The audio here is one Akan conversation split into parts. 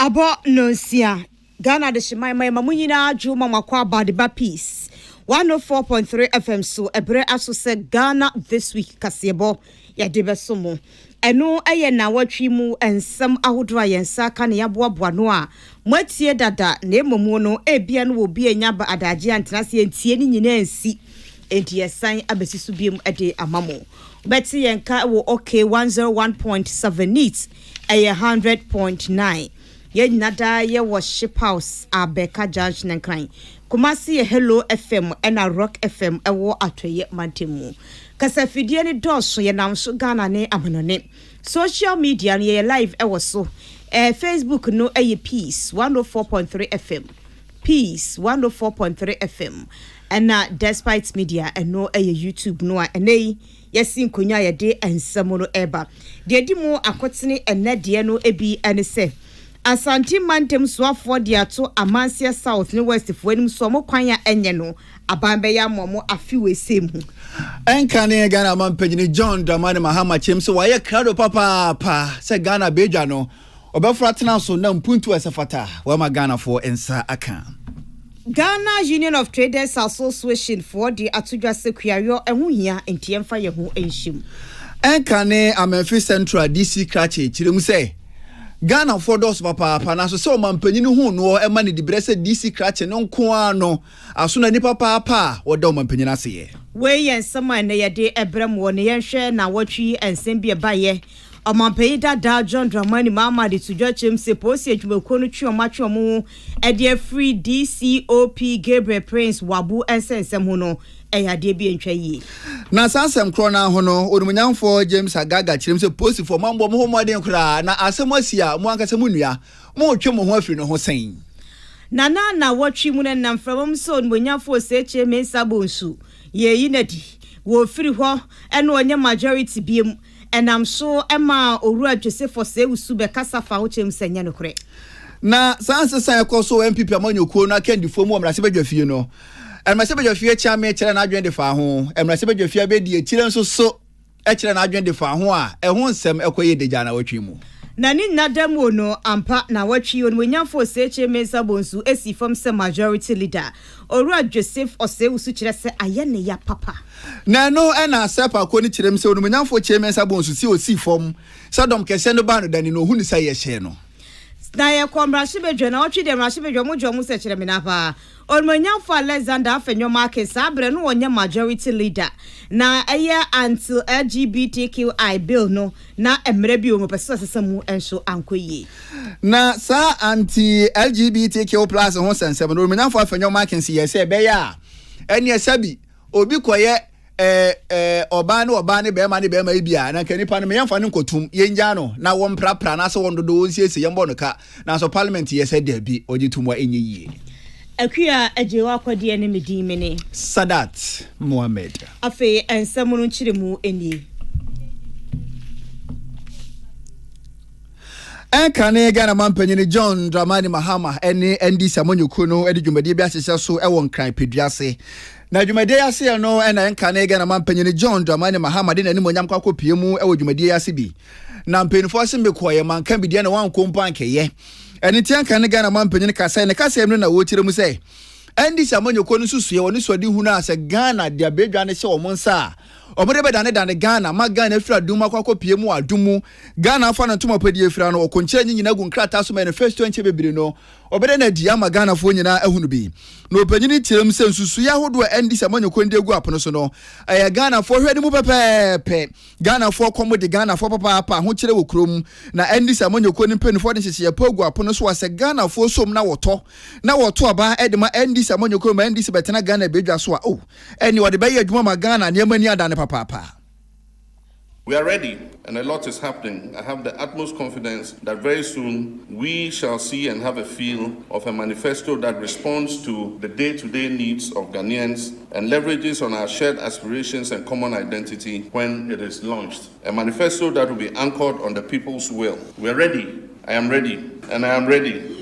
Abɔ nnɔnsia, Ghana adehyeman ma yɛma mo nyinaa dwo ma moakɔ aba de ba Peace 104.3 FM so ɛberɛ aso sɛ Ghana This Week kaseɛbɔ yɛde bɛso mo. Ɛno yɛ nnawɔtwe mu nsɛm ahodoɔ a yɛn nsa aka na yɛaboaboa ano a moatie dada na mmom no ebia no wɔ bi a ɛnya ba adagye antena ase antie ne nyinaa ansi enti yɛsan abɛsi so biom de ama mo. Wobɛte yɛn nka wɔ OK 101.7 NEET Ɛyɛ hundred point nine yɛn nyina daa yɛ wɔ ship house a bɛka junction nkran kumasi yɛ hello fm ɛna rock fm ɛwɔ atɔyɛ mantamu kasa fidie no dɔɔso yɛ nam so ghana ne amanɔne social media no yɛyɛ live ɛwɔ so ɛɛ facebook no ɛyɛ peace one oh four point three fm peace one oh four point three fm ɛna despite media ɛno ɛyɛ youtube no a ɛnɛ yi Yɛasi nkonnwa a yɛde nsɛm no reba. Deɛ ɛdi mu akotene ɛnnɛ deɛ no bi ne sɛ, Asante mantam soafoɔ de ato Amanseɛ South ne West foɔ anim sɛ wɔn kwan a ɛnyɛ no aban bɛyɛ ama wɔn afe wei sɛm mu. Ɛnka ne Ghana Mampanyini John Dramani Mahama kyerɛm sɛ wayɛ krado papaapa sɛ Ghana bɛdwa no. Ɔbɛforo atena so na mpuntuo a ɛsɛ fata wama Ghanafoɔ nsa aka. Ghana Union of Traders Association foɔ de ato dwa sɛ kuayɔ ɛho hia nti yɛmfa yɛn ho nhyɛ mu. Ɛnkane Amenfi Central DC Krakye kyerɛ mu sɛ Ghanafoɔ dɔɔso papaapa nanso sɛ ɔmanpanyin ho noɔ ɛma no dibrɛ sɛ DC Krakye no nko ara no aso na ni papaapa a wɔda ɔmanpanyin ase yɛ. Wei yɛ nsɛm a ɛnɛ yɛde ɛbrɛ mo wɔ ne yɛnhwɛ na wɔtwe yi nsɛm bi ɛbaeɛ. Ɔmanpanyin dadaa John Dramani Mahama de to dwa kyerɛm sɛ polisi adwumakuo no twe wɔn atwe wɔn ho de afiri DCOP Gabriel Prince Wabu nsɛnsɛm ho no yɛ adeɛ bi a ɛntwa yie. Na saa asɛm korɔ no ara ho no, Onimuonyamfoɔ James Agaga kyerɛm sɛ polisifoɔ moammɔ mo ho mmɔden koraa na asɛm asi a mo ankasa mo nua moretwe mo ho afiri no ho sɛn? Na na nnawɔtwe mu no ɛnam mframa mu sɛ Onimuonyamfoɔ Osei Kyei Mensah Bonsu yɛ ayi no adi wɔ ofiri hɔ na ɔnyɛ majority biom. Ɛnam so maa Owura Josephus Sewusu bɛkasa faa wo kyerɛ mu sɛ ɛnyɛ nokorɛ. Na saa nsesa a ɛkɔ so wɔ NPP amanyɔkuo no akandifoɔ mu wɔ mmarahyɛbadwafie no, mmarahyɛbadwafie Kyame kyerɛɛ n'adwene de faa ho. Mmarahyɛbadwafie Abedi Akyire nso so kyerɛɛ n'adwene de faa ho a ɛho nsɛm kɔ yie de gyaa nnawɔtwe yi mu. Na ne nna da mu o no, ampa, nnawɔtwe yi, Onimuonyamfoɔ Osekyere Mensah Bonsu sii fam sɛ Majority Leader. Owura Joseph Osei-Usu kyerɛ sɛ ayɛ ne ya papa. Na ɛno na Asɛp Akɔ no kyerɛm sɛ Onimonyamfoɔ kyeɛ me nsa bɔn so sɛ ɔsii fam sɛ dɔm kɛseɛ no baa no dane no ɔhu no sɛ ayɛ hyɛɛ no. Na yɛkɔ mmarahyɛbadwa na ɔtwe deɛ mmarahyɛbadwa mo dwa mu sɛ kyerɛ me na paa Onimonyamfoɔ Alexander Afenyo Makin saa berɛ no ɔnyɛ Majority Leader na ɛyɛ Until LGBTQI Bill no Na mmara bi wɔ mu a wɔpɛsɛ sɛ ɔsesa mu nso ankɔ yie. Na saa anti-LGBTQ plus ho nsɛnsɛm no, Romanafo Afenyo Markins yɛɛ sɛ ɛbɛyɛ a ɛneɛ sɛbi obi kɔyɛ ɛɛ ɛɛ ɔbaa ne ɔbaa ne bɛrima ne bɛrima yi bi a, na nka nipa no me yɛmfa no nkɔtum, yɛngyaa no na wɔmprapra anaasɛ wɔndodo, wɔnsiesie, yɛmbɔ no ka. Nanso Parliament yɛ sɛ dabi, ɔgye tom a ɛnyɛ yie. Akua agye wo akɔdeɛ ne me din mene. Sadat Mohammed. Afei nsɛm no nkyerɛmu nie. Ɛnkane Ghana mampanyini John Dramani Mahama ne ND Samonyoko no de dwumadie bi ahyehyɛ so wɔ Nkran Pedua ase. Na dwumadie aseɛ no na ɛnkane Ghana mampanyini John Dramani Mahama de n'animonyam kɔ akɔpie mu wɔ dwumadie ase bi. na mpanyinfoɔ ase mekɔɔyɛ manka bi deɛ na wankɔ mpo ankɛyɛ ɛne nti anka ne ghana ma mpanyin kasa ne kasa mmiri na wɔkyerɛ mu sɛ ndc amanyɔkuo no nso sua wɔn suade hunu a sɛ ghana de abɛdwa ne hyɛ wɔn nsa a wɔde bɛdanedane ghana ma ghana afiri adum akɔ akɔpie mu adum mu ghana afa no ntoma pɛ deɛ afira no ɔkɔnkyerɛ nye nyina gu nkrataa so manifesto nkyɛ bebree no ɔbɛdɛ no adi ama ghanafoɔ nyinaa ahunu bi na ɔpanyini kyerɛ mu sɛ nsusuiɛ ahodoɔ ndc amanyɔkuo no de agu apono so no ɛyɛ ghanafoɔ hwɛ ne mu pɛpɛɛpɛ Ghanafoɔ kɔ mo de Ghanafoɔ papaapa ahokyerɛ wɔ kurom na ɛnde sɛ mo nyɛkuo no mpaninfoɔ de nhyehyeɛ pa gu apono so a sɛ Ghanafoɔ som na wɔtɔ na wɔto aba de ma ɛnde sɛ mo nyɛkuo ma ɛnde sɛ bɛtena Ghana badwa so a oh ɛnneɛ wɔde bɛyɛ adwuma ma Ghana nneɛma ani adane papaapa. We are ready and a lot is happening, I have the utmost confidence that very soon we shall see and have a feel of a manifesto that responds to the day to day needs of Ghanaians, and leverages on our shared aspirations and common identity when it is launched, a manifesto that will be anchored on the people's will. We are ready, I am ready, and I am ready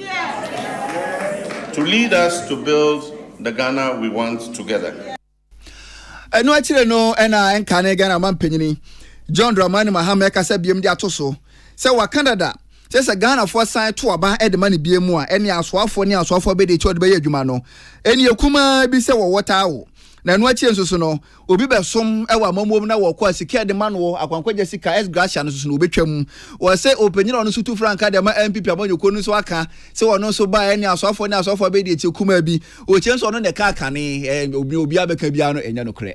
to lead us to build the Ghana we want together. ɛno akyire no ɛna ɛnka ne Ghana ma mpanyini John Dramani Mahama ɛkasa biam de ato so sɛ waka dada Kyerɛ sɛ Ghanafoɔ san to aba de ma no bie mu a, ɛnneɛ asoafoɔ ne asoafoɔ bɛdi akyire a wɔde bɛyɛ adwuma no. Ɛnneɛ kumaa bi sɛ wɔwɔ taa wo. Na ɛno akyire nso so no, obi bɛsom wɔ amammuo mu na wɔkɔ a, sika a yɛde ma noɔ, akwankwagya sika, ex gratia, no nso so no wɔbɛtwa mu. Wɔ sɛ ɔpanin a ɔno nso tu frankaa de ma NPP amanyɔkuo no nso aka sɛ ɔno nso ba a, ɛnneɛ asoafoɔ ne asoafoɔ bɛdi akyire kumaa bi. Ɔkyerɛ sɛ ɔno na ɛka akane. Ɛɛ, deɛ obiara bɛka biara no, ɛnyɛ nokorɛ.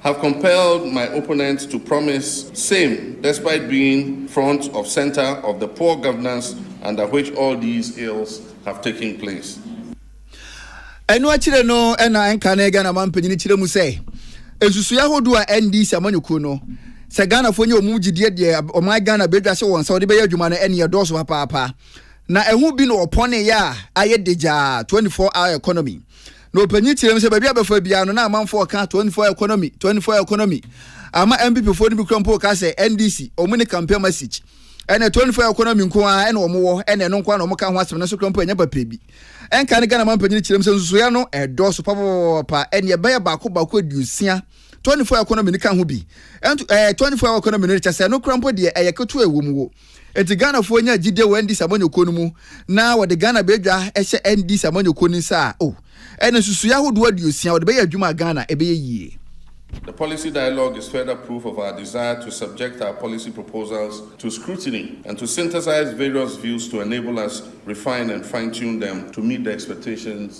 Have compelled my opponent to promise same despite being front of centre of the poor governance under which all these ills have taken place. Ɛno akyire no na ɛnkane Ghana man panyini kyerɛ mu sɛ nsusueɛ ahodoɔ a NDC amanyɔkuo no sɛ Ghanafoɔ nyɛ wɔn gyidie deɛ ɔman Ghana bɛdwa se wɔn nsa wɔde bɛyɛ adwuma no ɛne ɛdɔɔso papaapa na ɛho bi na ɔpɔneeɛ a ayɛ degyaa 24 hour economy Na ɔpanyin kyerɛɛ mu sɛ baabi a bɛfa biara no na amanfoɔ ka 24 economy, 24 economy. Ama NPP foɔ no bi kura mpo ka sɛ NDC, wɔn ne campaign message. Ɛnna 24 economy nko ara na wɔn wɔ, ɛnna ɛno nko ara na wɔn ka ho asɛm, nanso kura mpo ɛnyɛ papa bi. Ɛnka ne Ghana man panyin kyerɛ mu sɛ nsusuiɛ no ɛdɔɔso papapapapa, ɛnna ɛbɛyɛ baako baako aduosia. 24 economy no ka ho bi. Ɛnto ɛɛ 24 hour economy no kyɛ sɛ ɛno kura mpo deɛ ɛyɛ ketewa ɛwɔ mu wo. Enti Ghanafoɔ nya gyidie wɔ NDC amanyɔkuo no mu na wɔde Ghana badwa hyɛ NDC amanyɔkuo no nsa a, oh, ɛne nsusuiɛ ahodoɔ aduosia, wɔde bɛyɛ adwuma a Ghana ɛbɛyɛ yie. The policy dialogue is further proof of our desire to subject our policy proposals to scrutiny and to synthesize various views to enable us refine and fine-tune them to meet the expectations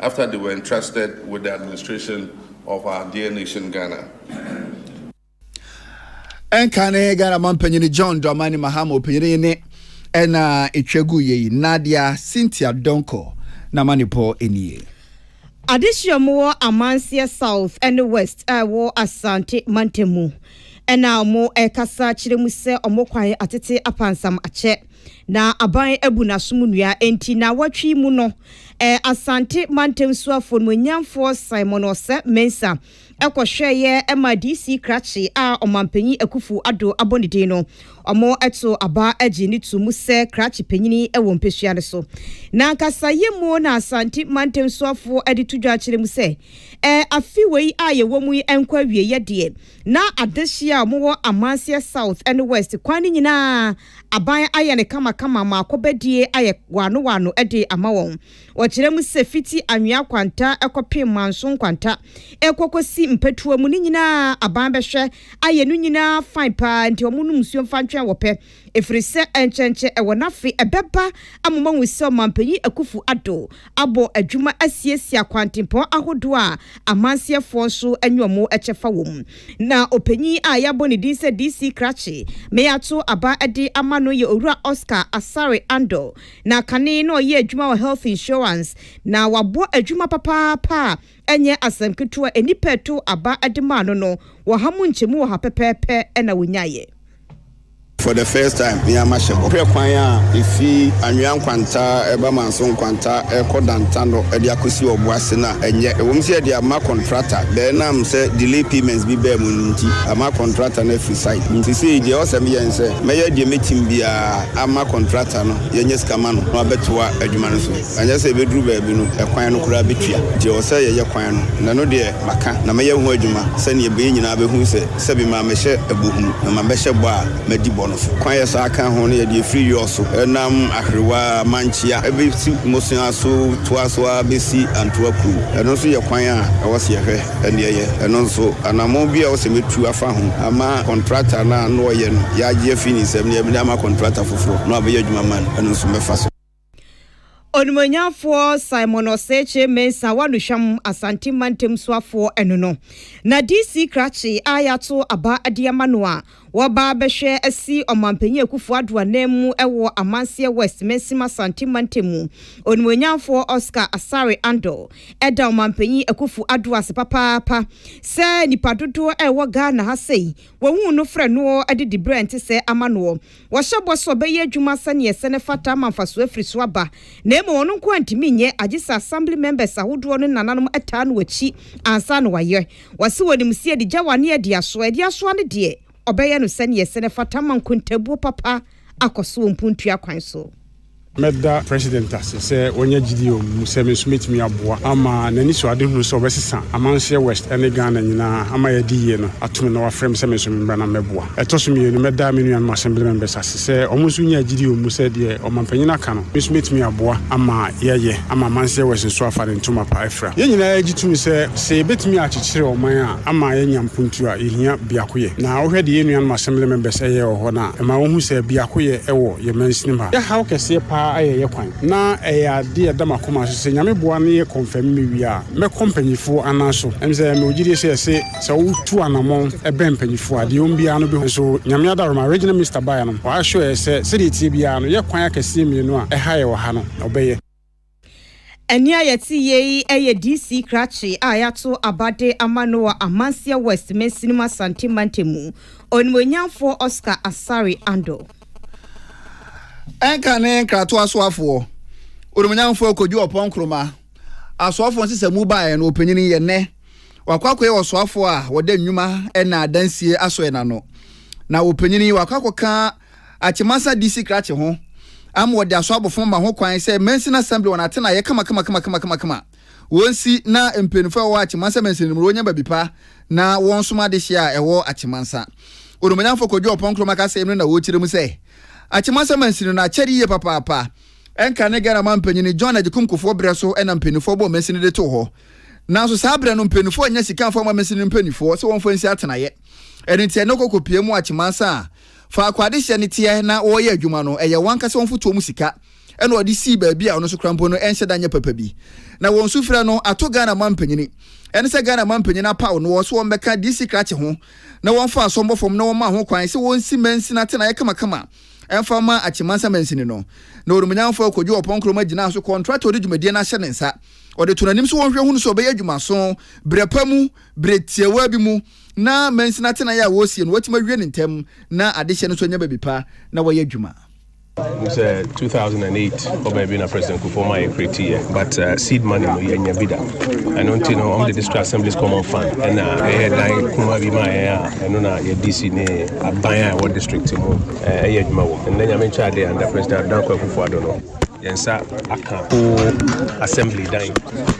after they were entrusted with the administration of our dear nation Ghana. ɛnka ne ghana ma mpanyini john dramani mahama ɔpanyini ne ɛna ɛtwa gu yɛ yi nadia cynthia donko na ma ne pɔ nie adesua mu wɔ amanseɛ south ne west a ɛwɔ asante mantam mu ɛna wɔn ɛkasa kyerɛ mu sɛ wɔn kwan atete apansam akyɛ Na aban abu n'asom nnua. Enti naawɔtwe yi mu no, Asante mantam suafoɔ no muanyiamfoɔ Simon Oseh Mensah kɔhwɛeɛ maa DC krakye a Ɔmanpanyin Akuffo Addo abɔ ne din no. Wɔtoo aba gyee no too mu sɛ krakye panyini wɔ mpesua no so. N'ankasa yɛmu na Asante mantam suafoɔ de to dwa akyerɛ mu sɛ, afe wei a yɛwɔ mu yi nkɔ awieɛ deɛ, na adehyeɛ a wɔwɔ Amanseɛ South ne West kwan no nyinaa, aban ayɛ no kamakama ma akɔbɛdie ayɛ waano waano de ama wɔn. Wɔkyerɛ mu sɛ fiti anwea kwanta kɔpem manso nkwanta rekɔ kɔsi mpɛtoa mu no nyinaa aban bɛhwɛ ayɛ no nyinaa fine paa nti wɔn nom nsuo mfa ntwɛn wɔpɛ ɛfirisɛ nkyɛnkyɛ ɛwɔ n'afe ɛbɛba ama moahu sɛ ɔmanpanyin Akuffo Addo abɔ adwuma asiesie akwantempɔn ahodoɔ a amanseɛfoɔ nso anya wɔn kyɛfa wɔ mu. Na ɔpanyin a yɛabɔ ne din sɛ DC Krakye ma yɛato aba de ama no yɛ Owura Oscar Asare Andɔ. Na kane na ɔyɛ adwuma wɔ Health Insurance na wabɔ adwuma papaapa a ɛnyɛ asɛm ketewa a nnipa a ɛtow aba de maa no no, ɔha mu nkyɛmu ɔha pɛpɛɛpɛ na onyaeɛ. For the first time me ara mahyɛ bɔ. Hwɛ kwan a efi Anwea nkwantaa ɛba Manso nkwantaa ɛkɔ Dantano ɛde akɔsi Ɔboase no a ɛnyɛ. Ɛwɔ mu sɛ yɛde ama kɔntrata bɛɛ ɛnam sɛ delay payments bi baa mu no nti ama kɔntrata no afiri site. Nti sei deɛ ɛwɔ sɛ meyɛ ne sɛ mɛyɛ deɛ mɛtim biara ama kɔntrata no yɛnyɛ sika ma no na wabɛtoa adwuma no so. Na nyɛ sɛ ɛbɛduru baabi no, ɛkwan no koraa bɛtua. Nti ɛwɔ sɛ yɛyɛ kwan no, na ɛno deɛ maka, na mɛyɛ ho adwuma, sɛdeɛ ɛbɛyɛ nyinaa bɛhunu sɛ, sɛbe mamɛhyɛ bɔ hunu, na mabɛhyɛ bɔ a madi bɔ no so. Kwan a ɛsan ka ho no yɛ deɛ ɛfiri Yor so nam Aherewa Mankyea bɛsi Mosea so toa so ara bɛsi Antoa kurom. Ɛno nso yɛ kwan a ɛwɔ sɛ yɛhwɛ na yɛyɛ. Ɛno nso, anammɔn bi a ɛwɔ sɛ mɛtu afa ho ama kɔntrakta no a na ɔyɛ no, yɛagye afiri ne nsam na yɛde ama kɔntrakta foforɔ na wabɛyɛ adwuma ma no, ɛno nso mɛfa so. Onimuonyamfoɔ Simon Oseche Mensah Waluhwam Asante Mantam Soafoɔ ɛno no na DC krakye a yɛato aba de ama no a wɔba bɛhwɛ asi Ɔmanpanyin Akufo Addo ananmu wɔ Amanseɛ West Mansim Asante Mantam mu Onimuonyamfoɔ Oscar Asare Andor ɛda Ɔmanpanyin Akufo Addo ase papaapa sɛ nnipa dodoɔ a ɛwɔ Ghana ha sɛi wɔhuu no frɛ noɔ de dibrɛ ntesɛɛ ama noɔ Wahyɛ bɔ sɛ ɔbɛyɛ adwuma sɛnea ɛsɛ na ɛfata ama mfaso afiri so aba. Na mmom ɔno nko ara ntumi nyɛ, agye sɛ Assembly members ahodoɔ no nananom taa no akyi ansa na wayɛ. Wase wɔ animsia de gyawa ne adi asoa. Adi asoa no deɛ, ɔbɛyɛ no sɛnea ɛsɛ na ɛfata ama nkontabuo papa akɔ so wɔ mpuntua kwan so. Mɛda President ase sɛ wanya gyidie wɔ me mu sɛ me nso mɛtumi aboa ama n'anisoadehunu sɛ ɔbɛsesa Amanseɛ West ne Ghana nyinaa ama yɛadi yie no atom na wafrɛ me sɛ me nso memmra na mmɛboa. Ɛtɔ so mmienu, mɛda me nuanom Assembly members ase sɛ wɔn nso nyaa gyidie wɔ me mu sɛ deɛ Ɔmanpanin aka no, me nso mɛtumi aboa ama yɛayɛ ama Amanseɛ West nso afa ne ntoma pa afira. Yɛn nyinaa gye tom sɛ sɛ yɛbɛtumi akyekyere ɔman a, ama yɛanya mpontu a yehia biakoyɛ. Na wohwɛ deɛ yɛn nuanom Assembly members yɛ wɔ hɔ no a, ɛma wohu sɛ biakoyɛ wɔ yɛn mansinim ha. Yɛhaw kɛseɛ paa ayɛ yɛn kwan, na ɛyɛ adeɛ a ɛda m'akoma so sɛ Nyame boa na yɛ confirm me wie a, mɛkɔ mpanyinfoɔ anan so. Ɛne sɛ mewɔ gyidie sɛ ɛse sɛ wotu anamɔn bɛn mpanyinfoɔ a, deɛ ɔwom biara no bɛhu. Nso Nyame adaworoma a Regional Minister baeɛ no, ɔassure yɛn sɛ sɛdeɛ ɛteɛ biara no, yɛ kwan akɛseɛ mmienu a ɛha yɛn wɔ ha no, ɔbɛyɛ. Ɛnne a yɛte yɛ yi yɛ DC krakye a yɛato abade ama no wɔ Amansia West mansini mu Asante mantamu, Onimuonyamfoɔ Oscar Asare Ando. Ɛnka ne nkratoɔ asoafoɔ, Onimuonyamfoɔ Kojo Oppong Nkrumah, asoafoɔ nsesamu baeɛ no ɔpanyini yɛ nnɛ. Wakɔ akɔyɛ ɔsoafoɔ a ɔda nnwuma na adansie asɔɛ no ano. Na ɔpanyini yi wakɔ akɔka Akyemasa DC krakye ho ama wɔde asɔ abofom ma ho kwan sɛ Mansin Assembly wɔn atenaeɛ kamakamakamakama wɔnsi na mpanyinfoɔ a wɔwɔ Akyemasa Mansin no mu no wɔnya baabi pa na wɔnsom adehyeɛ a ɛwɔ Akyemasa. Onimuonyamfoɔ Kojo Oppong Nkrumah kasɛm no na wɔkyerɛ mu sɛ Akyemasa Mansin no akyɛre yie papaapa. Ɛnka ne Ghana man panyin John Agyekum Kufuor berɛ so na mpanyinfoɔ bɔɔ Mansin no de too hɔ nanso saa berɛ no mpanyinfoɔ annya sika amfa amma Mansin no mpanyinfoɔ sɛ wɔmfa nsi atenaeɛ ɛno nti ɛnnɛ wɔkɔ kɔpia mu wɔ Akyemasa a Faako a adehyeɛ no teɛ na wɔreyɛ adwuma no, ɛyɛ wɔn ankasa wɔn mfotoɔ mu sika na wɔde sii baabi a ɔno nso koraa mpo no ɛnhyɛ da nyɛ papa bi. Na wɔn sufrɛ no ato Ghana mampanyini. Ɛne sɛ Ghana mampanyini apaw noɔ sɛ wɔmmɛka DC krakye ho na wɔmfa asɔmmɔ fam na wɔmma ho kwan sɛ wɔnsi mansini atenaeɛ kamakama mfa mma Akyi-Mansa mansini no. Na onimunyamfoɔ Kojo Oppong-Nkrumah gyinaa so kɔntratɔ a ɔde dwumadie no ahyɛ ne nsa. Ɔde too n'anim sɛ wɔnhwɛ hunu sɛ ɔbɛyɛ adwumaso berɛ pa mu, berɛ tiawaa bi mu, na mansini atenae a wɔresie no wɔatumi awie no ntɛm na adehyeɛ no nso anya baabi pa na wɔayɛ adwuma. Nim sɛ 2008 hɔ baabi na President Kufuor ma yɛ create yɛ but uh, seed money no yɛnya bi da ɛno nti no ɔmde district assemblies common fund ɛna ɛyɛ dan kuma bi ma yɛn a ɛno na yɛ DC ne aban a ɛwɔ district mu ɛyɛ adwuma wɔ ɛnna nyame nkyɛ adeɛ under President Dankwa Kufuor Addo no Yɛn nsa aka whole assembly dan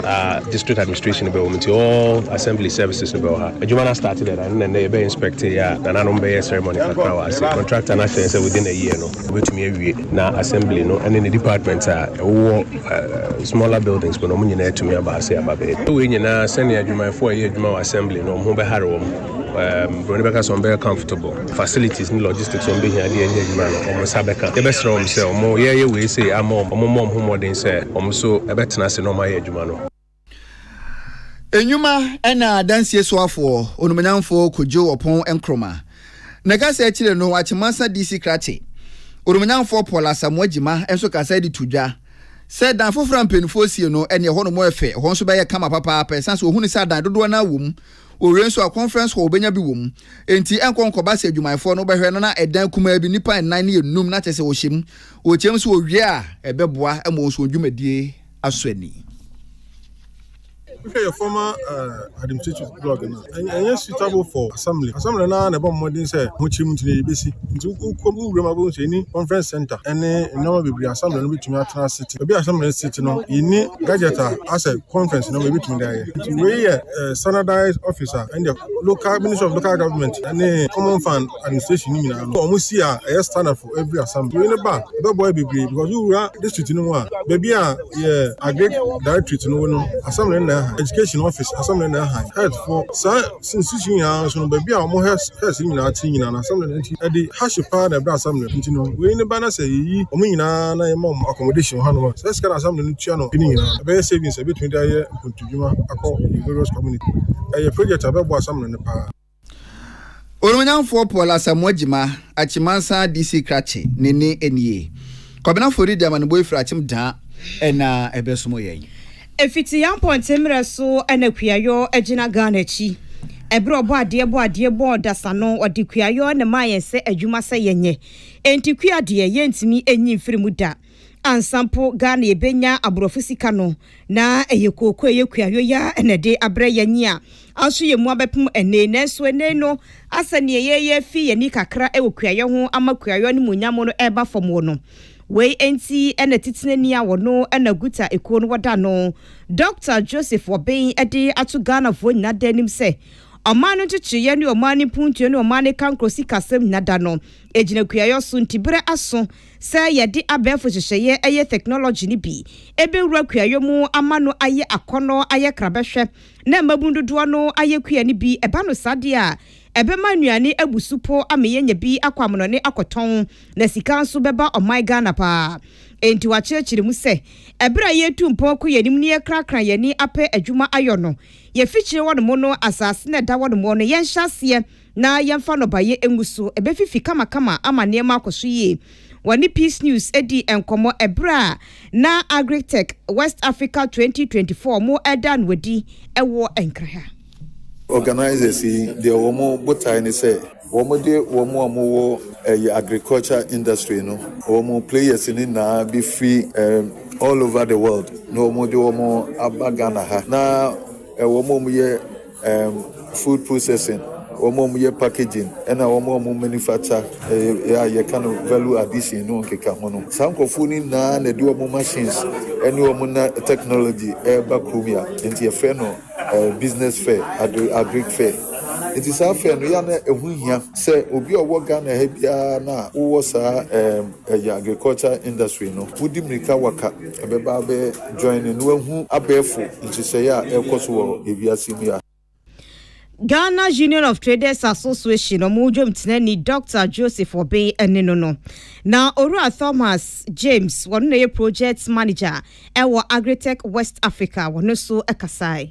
a district administration bɛwɔ mu nti all assembly services no bɛwɔ ha adwuma no start dɛ na ne nnɛ yɛbɛ inspect yɛ a nananom bɛyɛ ceremony kakra wɔ ase contractor no ahyɛ yɛn sɛ within a year no wobɛtumi awie na assembly no ɛne ne department a ɛwowɔ uh, smaller buildings mu no ɔmo nyinaa atumi aba ase aba bɛɛ wei nyinaa sɛnea adwumayɛfoɔ a ɛyɛ adwuma wɔ assembly no ɔmo ho bɛhare wɔn Ɛɛm, buroni bɛka sɛ wɔbɛyɛ comfortable. Facilities ne logistics a wɔbɛhia de anya adwuma no, wɔn nsa bɛka. Yɛbɛsrɛ wɔn sɛ wɔn yɛreyɛ wei sei ama wɔn, wɔmmɔ wɔn ho mmɔden sɛ wɔn nso bɛtena ase na wɔayɛ adwuma no. Nnwuma na Adansie Soafoɔ Onumonyamfoɔ Kojo Opon Nkrumah ne kasa akyire no Akyemasa DC Krakye Onumonyamfoɔ Paul Asamoah Gyimah nso kasaeɛ de to dwa sɛ dan foforɔ a mpaninfoɔ sie no ɛneɛ ɛhɔ nom ɛfɛ ɛhɔ nso bɛyɛ kama papaapa ɛsan sɛ ɔhunu sɛ adan dodoɔ no ara wɔ mu Owie nso a, conference hall wobɛnya bi wɔ mu. Enti ɛnkɔ nkɔba sɛ adwumayɛfoɔ no bɛhwɛ no na ɛdan kumaa bi, nnipa nnan ne nnum, na kyerɛ sɛ wɔhyɛ mu. Wɔkyɛ mu nso wɔwie a, ɛbɛboa ma wɔn nso wɔn dwumadie asɔ ani. Wohwɛ yɛ former uh, administrative blog no ɛnyɛ suitable for assembly assembly no ara na ɛbɔ mmɔden sɛ mokyerɛ mu nti na yɛbɛsi nti wokɔm wowura mu abɛhu sɛ ɛni conference center ɛne nneɛma bebree assembly no bɛtumi atena sete ebi assembly no sete no yɛni gadget a asɛ conference no ma ɛbɛtumi de ayɛ nti wei yɛ eh, standardized officer and the local ministry of local government and the common fund administration ni nyinaa no wɔn si a ɛyɛ standard for every assembly yɛn ba ɛbɛboa bebree because wura district no mu a baabi a yɛ agric directorate no wɔ no assembly na ɛha education office assembly na ɛha health for saa institution nyinaa nso no baabi a wɔn health health nyinaa ti nyinaa na assembly na ɛti ɛde hash paa na ɛbrɛ assembly nti no wei ne ba na sɛ yɛyi wɔn nyinaa na yɛma wɔn accommodation hɔ anoma sɛ sika na assembly no tua no ɛne nyinaa ɛbɛyɛ savings ɛbɛtumi de ayɛ nkontu adwuma akɔ ne various community. Ɛyɛ project a ɛbɛboa Asamena no paa. Onuonyamfoɔ Paul Asamoah Gyima, Akyimansan DC Krakye, ne nne nie. Kwabena Fo redi amanebɔ efiri Akyem Daa ɛna ɛbɛsomo yɛn. Ɛfiti yɛn mpɔnten mmerɛ so na kuayɔ agyina Ghana akyi. Ɛberɛ ɔbɔ adeɛ bɔ adeɛ bɔɔ dasa no, ɔde kuayɔ na ɛmaa yɛn sɛ adwuma sɛ yɛnyɛ. Enti kua deɛ, yɛntumi nyi mfiri mu da. Ansa mpo Ghana yɛbɛnya aborɔfo sika no, na ɛyɛ kooko a ɛyɛ kuayɔ yi ara na ɛde abrɛ yɛn. Nea anso yɛn mu abɛpem ɛnnɛ yi. Nanso ɛnnɛ yi no, asɛ nea yɛyɛ afi yɛn ani kakra wɔ kuayɔ ho ama kuayɔ animuonyam no reba fam wɔ no. Wei nti na titenani a ɔno na Guta ekuo no wɔda no Dɔkta Joseph Wɔben de ato Ghanafoɔ nyinaa da anim sɛ, Ɔman no nkyekyereeɛ ne ɔman no mpuntuo ne ɔman no kankorɔ sikasɛm nyinaa da no gyina kuayɔ so nti berɛ aso sɛ yɛde abɛɛfo nhyehyɛeɛ yɛ theknology no bi bɛwura kuayɔ mu ama no ayɛ akɔnnɔ, ayɛ krabɛhwɛ, na mmabunu dodoɔ no ayɛ kua no bi. Ɛba no saa deɛ a, ɛbɛma nnuane abu so po ama yɛanya bi akɔ amonɔne akɔtɔn, na sika nso bɛba ɔman Ghana pa ara. Enti wɔakyerɛkyerɛ mu sɛ, ɛberɛ a yɛretu mpɔn kɔ yɛn anim na yɛkrakra yɛn ani apɛ adwuma ayɔ no, yɛfikyire hɔnom no, asase no a ɛda hɔnom no, yɛnhyɛ aseɛ, na yɛmfa nnɔbaeɛ ngu so, ɛbɛfifi kamakama ama nneɛma akɔ so yie. Wɔne Peace News dii nkɔmmɔ ɛberɛ a na Agritech West Africa 2024 wɔn reda no adi wɔ Nkran. Organisers yi deɛ wɔn botae ne sɛ wɔn de wɔn a wɔn wɔ ɛyɛ agriculture industry no wɔn players no nyinaa bi firi ɛɛm all over the world na wɔn de wɔn aba Ghana ha na ɛwɔ wɔn a wɔn yɛ. um food processing, wɔn a wɔyɛ packaging, ɛna wɔn a wɔn manufacture ɛyɛ a yɛka no value addition no nkeka ho no. Saa nkurɔfoɔ no nyinaa na ɛde wɔn machines ɛne wɔn na technology ɛreba kurom ya. Nti yɛfrɛ no uh, business fair, agri agric fair. Nti saa fair no yɛ na ɛho hia sɛ obi a ɔwɔ Ghana ha biara na wowɔ saa um, ɛyɛ agriculture industry no, wodi mmirika waka ɛbɛba bɛyɛ Join na wahu abɛɛfo nhyehyɛe a ɛrekɔ so wɔ wiase yi mu a. Ghana Union of Traders Association ɔmo dwomtenani Dɔkta Joseph Obey ɛne no no. Na Owura Thomas James wɔno na ɛyɛ Project Manager ɛwɔ Agritech West Africa wɔno nso ɛkasae.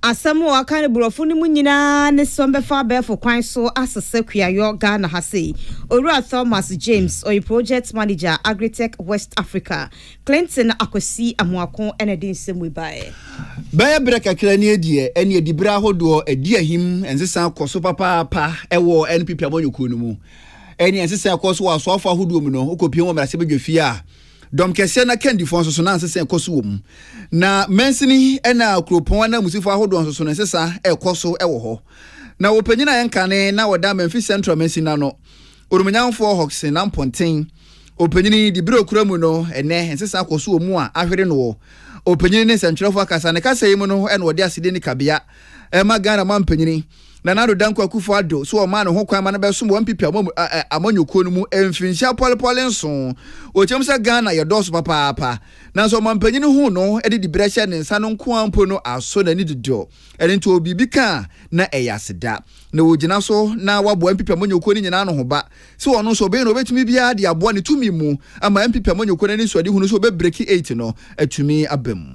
Asɛm a wɔaka no Borɔfo no mu nyinaa ne sɛ wɔbɛfa abɛɛfo kwan so asesa kuayɔ Ghana ha sei. Owura Thomas James, ɔyɛ Project Manager, Agritech West Africa, Clinton Akwasi Amoako na ɛde nsɛm wei baeɛ. Bɛyɛ berɛ kakra nie deɛ ɛne adibere ahodoɔ adi ahim nsesa kɔ so papaapa wɔ NPP amanyɔkuo no mu. Ɛne nsesa ɛkɔ so wɔ asoafo ahodoɔ mu no, wokɔpie wɔ mmarahyɛbadwafie a, Dɔm kɛseɛ no akandifoɔ nsoso na nsesa rekɔ so wɔ mu, na mansini na kuropɔn ananmusifo ahodoɔ nsoso na nsesa rekɔ so wɔ hɔ. Na wɔpanyin a ɛnkane na ɔda Memphis Central mansini ano, Onumunyanfoɔ Hodgson Ampɔnten, ɔpanyin de bere ɔkura mu no ɛnnɛ nsesa akɔ so wɔ mu a ahwere no wɔ ɔpanyin ne nsɛntwerɛfoɔ akasa. Ne kasa yi mu no na ɔde asedi ne kabea ɛma Ghana mampanyini, Nana Addo Dankwa Akufo-Addo, sɛ wɔmaa no hokwan ma no bɛsom wɔ NPP amanyɔkuo no mu mfirinhyia pɔlepɔle nson. Wɔkyerɛm sɛ Ghana yɛdɔɔso papaapa, nanso ɔmampanyini huu no de diberɛ hyɛɛ ne nsa no nko ara mpo no asɔ n'ani dodo. Ɛno nti ɔwɔ biribi ka a, na ɛyɛ aseda. Na ɔgyina so na waboa NPP amanyɔkuo no nyinaa ano hoba sɛ ɔno nso ɔbɛyɛ deɛ ɔbɛtumi biara de aboa ne tumi mu ama NPP amanyɔkuo no anisoadehunu sɛ ɔbɛbreki eight no atumi aba mu.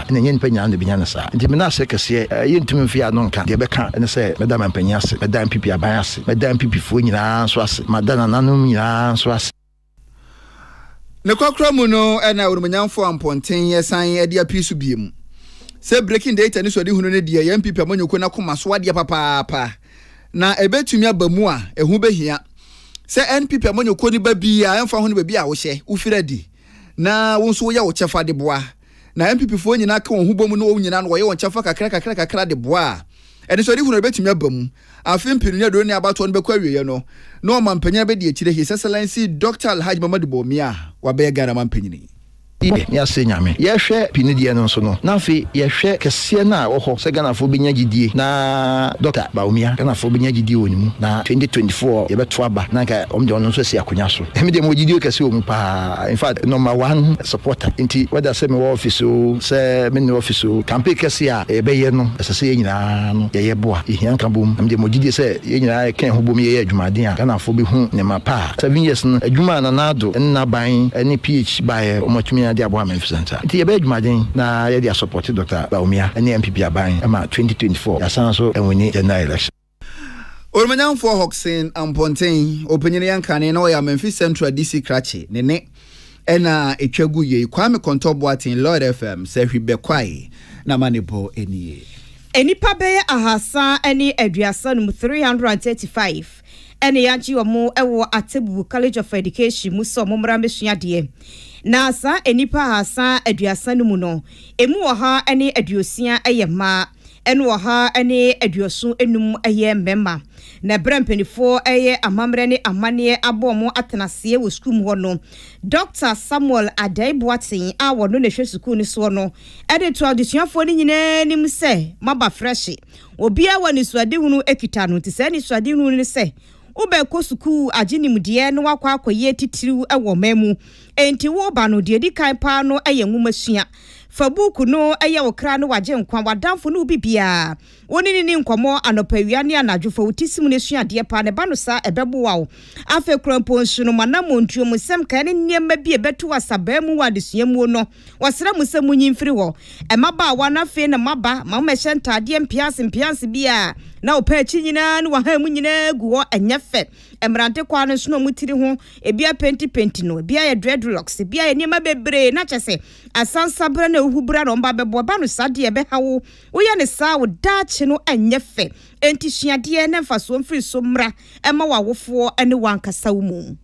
na ɛnyɛ nnipa nyinaa na ɛbɛnya no saa. Enti mena ase kɛseɛ. Yɛntumi mfeɛ ano nka. Deɛ ɛbɛka ne sɛ mɛda mampanin ase, mɛda mpp aban ase, mɛda mpp-foɔ nyinaa nso ase, mada nananom nyinaa nso ase. Nokwakorɔ mu no na Onimuonyamfoɔ Ampɔnten san de apue so bio mu sɛ breaking data ne suadehunu no deɛ yɛ mpp amanyɔkuo no akoma so adeɛ papaapa na ɛbɛtumi aba mu a ɛho bɛhia sɛ NPP amanyɔkuo no ba biara ɛmfa ho no baabi a wohyɛ, wofiri adi na wo nso woyɛ wo kyɛfa de boa. na NPP foɔ nyinaa ka wɔn ho bom na wɔn nyinaa no wɔyɛ wɔn kyɛfa kakra kakra kakra de boa a, anisoadehunu no bɛtumi aba mu. Afe mpenu ne aduonu ne abatoɔ no bɛkɔ awieɛ no, na ɔmanpanyin abɛdi akyire His Excellency Dɔkta Alhaji Mamadu Bawumia wabɛyɛ Ghana manpanyini. Yɛ ne ase Nyame. Yɛhwɛ mpenu deɛ no nso no, na afei yɛhwɛ kɛseɛ no a ɛwɔ hɔ sɛ Ghanafoɔ bɛnya gyidie na Dɔkta Bawumia, Ghanafoɔ bɛnya gyidie wɔ ne mu na twenty twenty four yɛbɛto aba na nka wɔn deɛ wɔn nso asi akonnwa so. Emi deɛ mewɔ gyidie kɛse wɔ mu paa in fact number one supporter nti whether sɛ mewɔ office o sɛ me nni office o campaign kɛse a yɛbɛyɛ no ɛsɛ sɛ yɛn nyinaa no yɛyɛ boa yɛhia nkabom na me deɛ mewɔ gyidie sɛ yɛn nyinaa yɛ ka yɛn ho bom yɛyɛ adwumaden a Ghanafoɔ bɛhu nneɛma pa a seven years no adwuma a Nana Addo ne n'aban ne PH baeɛ wɔn atumi de aboa Memphis Central nti yɛbɛyɛ adwumaden na yɛde asupporte Doctor Bawumia ne NPP aban ma twenty twenty four yɛasan nso awini general election. Orimanyamfoɔ Hawkson Ampɔnten, ɔpanyin yɛn kane na ɔyɛ Amanfi Central DC krakye ne ne ɛna a ɛtwa gu yei, Kwame Kɔntɔ Boateng, Lloyd FM, sɛ hwi bɛ kwae na ma ne bɔ nie. Nnipa bɛyɛ ahasa ne aduasa num, 335, na yɛagye wɔn wɔ Atebubu College of Education mu sɛ wɔn mmra mmɛsua adeɛ. Na saa nnipa ahasa aduasa no mu no, ɛmu ɔha ne aduosia yɛ mmaa. ne ɔha ne aduoson nnum yɛ mmarima, na berɛ a mpaninfoɔ reyɛ amammerɛ ne amanneɛ abɔ wɔn atenaseɛ wɔ sukuu mu hɔ no, Dɔkta Samuel Addae Boateng a ɔno na ɛhwɛ sukuu no soɔ no de too adesuafoɔ no nyinaa anim sɛ, Moaba frɛhye. Obiara wɔ anisoadehunu kita no, nti saa anisoadehunu no ne sɛ, wobɛkɔ sukuu, agye nimdeɛ na woakɔ akɔyɛ titiriw wɔ ɔman mu. Enti woreba no, deɛ ɛdi kan paa no yɛ nwomasua. Fa buuku no Ɛyɛ Wo Kra ne W'agyenkwa, W'adamfo ne Obi Biara. Wo ne no nni nkɔmmɔ anɔpa, awia, ne anadwo. Fa wo ti si mu na sua adeɛ paa, na ɛba no saa a, ɛbɛboa wo. Afei koraa mpo nso no, mo anammɔntuo mu nsɛm nkaeɛ ne nneɛma bi a ɛbɛto asabaa mu wɔ adesua mu no, wɔsrɛ mo sɛ monyi mfiri hɔ. Mmabaawa no afei na moaba, ma mommɛhyɛ ntaadeɛ mpeaase mpeaase bi a na wopɛ akyi nyinaa ne w'ahahan mu nyinaa gu hɔ, ɛnyɛ fɛ. mmerante kwaa no nso na wɔn tiri ho ebi apentipenti no, ebi ayɛ dreadlocks, ebi ayɛ nneɛma bebree na kyɛ sɛ asansabra ne ahuhubra na wɔn ba bɛbɔ. Ɛba no saa deɛ ɛbɛha wo. Woyɛ no saa a, wo daakye no nyɛ fɛ. Enti sua adeɛ na mfasoɔ mfiri so mmra mma w'awofoɔ ne w'ankasa wo mu.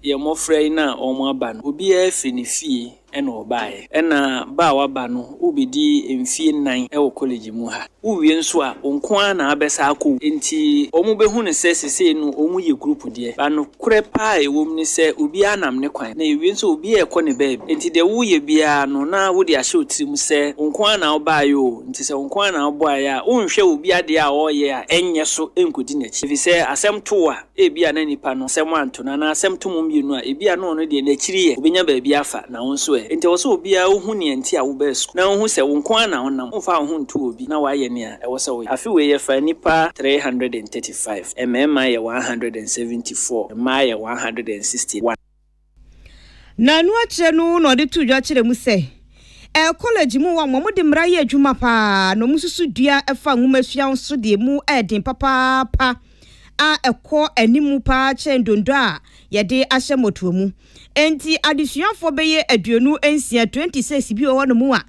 Yɛn mmɔfra yi na wɔaba no, obiara firi ne fie na ɔbaeɛ. Ɛna ba a waba no, wobɛdi mfie nnan wɔ college mu ha. Wowie nso a, wo nko ara na wabɛsa akɔ wo. Enti wɔbɛhu no sɛ sesei no wɔyɛ group deɛ. But nokorɛ pa ara a ɛwɔ mu ne sɛ obiara nam ne kwan. Na ɛwie nso a, obiara rekɔ ne baabi. Enti deɛ woreyɛ biara no, na wode ahyɛ wo tirim sɛ wo nko ara na wobaeɛ oo, nti sɛ wo nko ara na wobaeɛ a, wonhwɛ obi adeɛ a ɔreyɛ a ɛnyɛ so nkɔdi n'akyi. Ɛfiri sɛ asɛm to wo a, Ebia na nipa no asɛm anto no anaa asɛm to mo mmienu a, ebia na ɔno deɛ n'akyiri yɛ, obenya baabi afa, na wo nso ɛ? Enti ɛwɔ sɛ obiara ohu nea enti a wobaa sukuu, na ohu sɛ wo nko ara na wonam, womfaa wo ho ntoo obi, na woayɛ nea ɛwɔ sɛ woyɛ. Afe wei yɛfaa nnipa three hundred and thirty five, mmarima yɛ one hundred and seventy four, mmaa yɛ one hundred and sixty one. Na ɛno akyerɛ no na ɔde too dwa kyerɛɛ mu sɛ, Ɛyɛ kɔlege mu wɔn a wɔde mmara yɛ adwuma paa na wɔsusu dua a ɛfa nwomasua ho so deɛ mu yɛ den papaapa a ɛkɔ anim paa kyɛn donno a yɛde ahyɛ mmɔtoa mu. Enti adesuafoɔ bɛyɛ aduonu nsia, 26, bi wɔ hɔnom a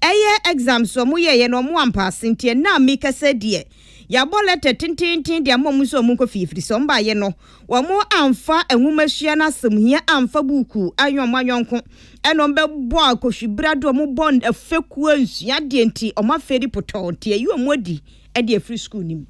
ɛyɛ exams a wɔyɛeɛ na wɔampaase nti ɛnnɛ a merekasa yi deɛ yɛabɔ lɛtɛ tenteenten de ama wɔn sɛ wɔnkɔ fie ɛfiri sɛ wɔn baeɛ no Wɔamfa nwomasua no asɛmhia amfa buukuu anyɛ wɔn ayɔnko, ɛnna wɔbɛbɔɔ akohwibra de wɔn bɔɔ fekuo ansua adeɛ nti, wɔn afeadi potɔɔ nti ayi wɔn adi de afiri sukuu no mu.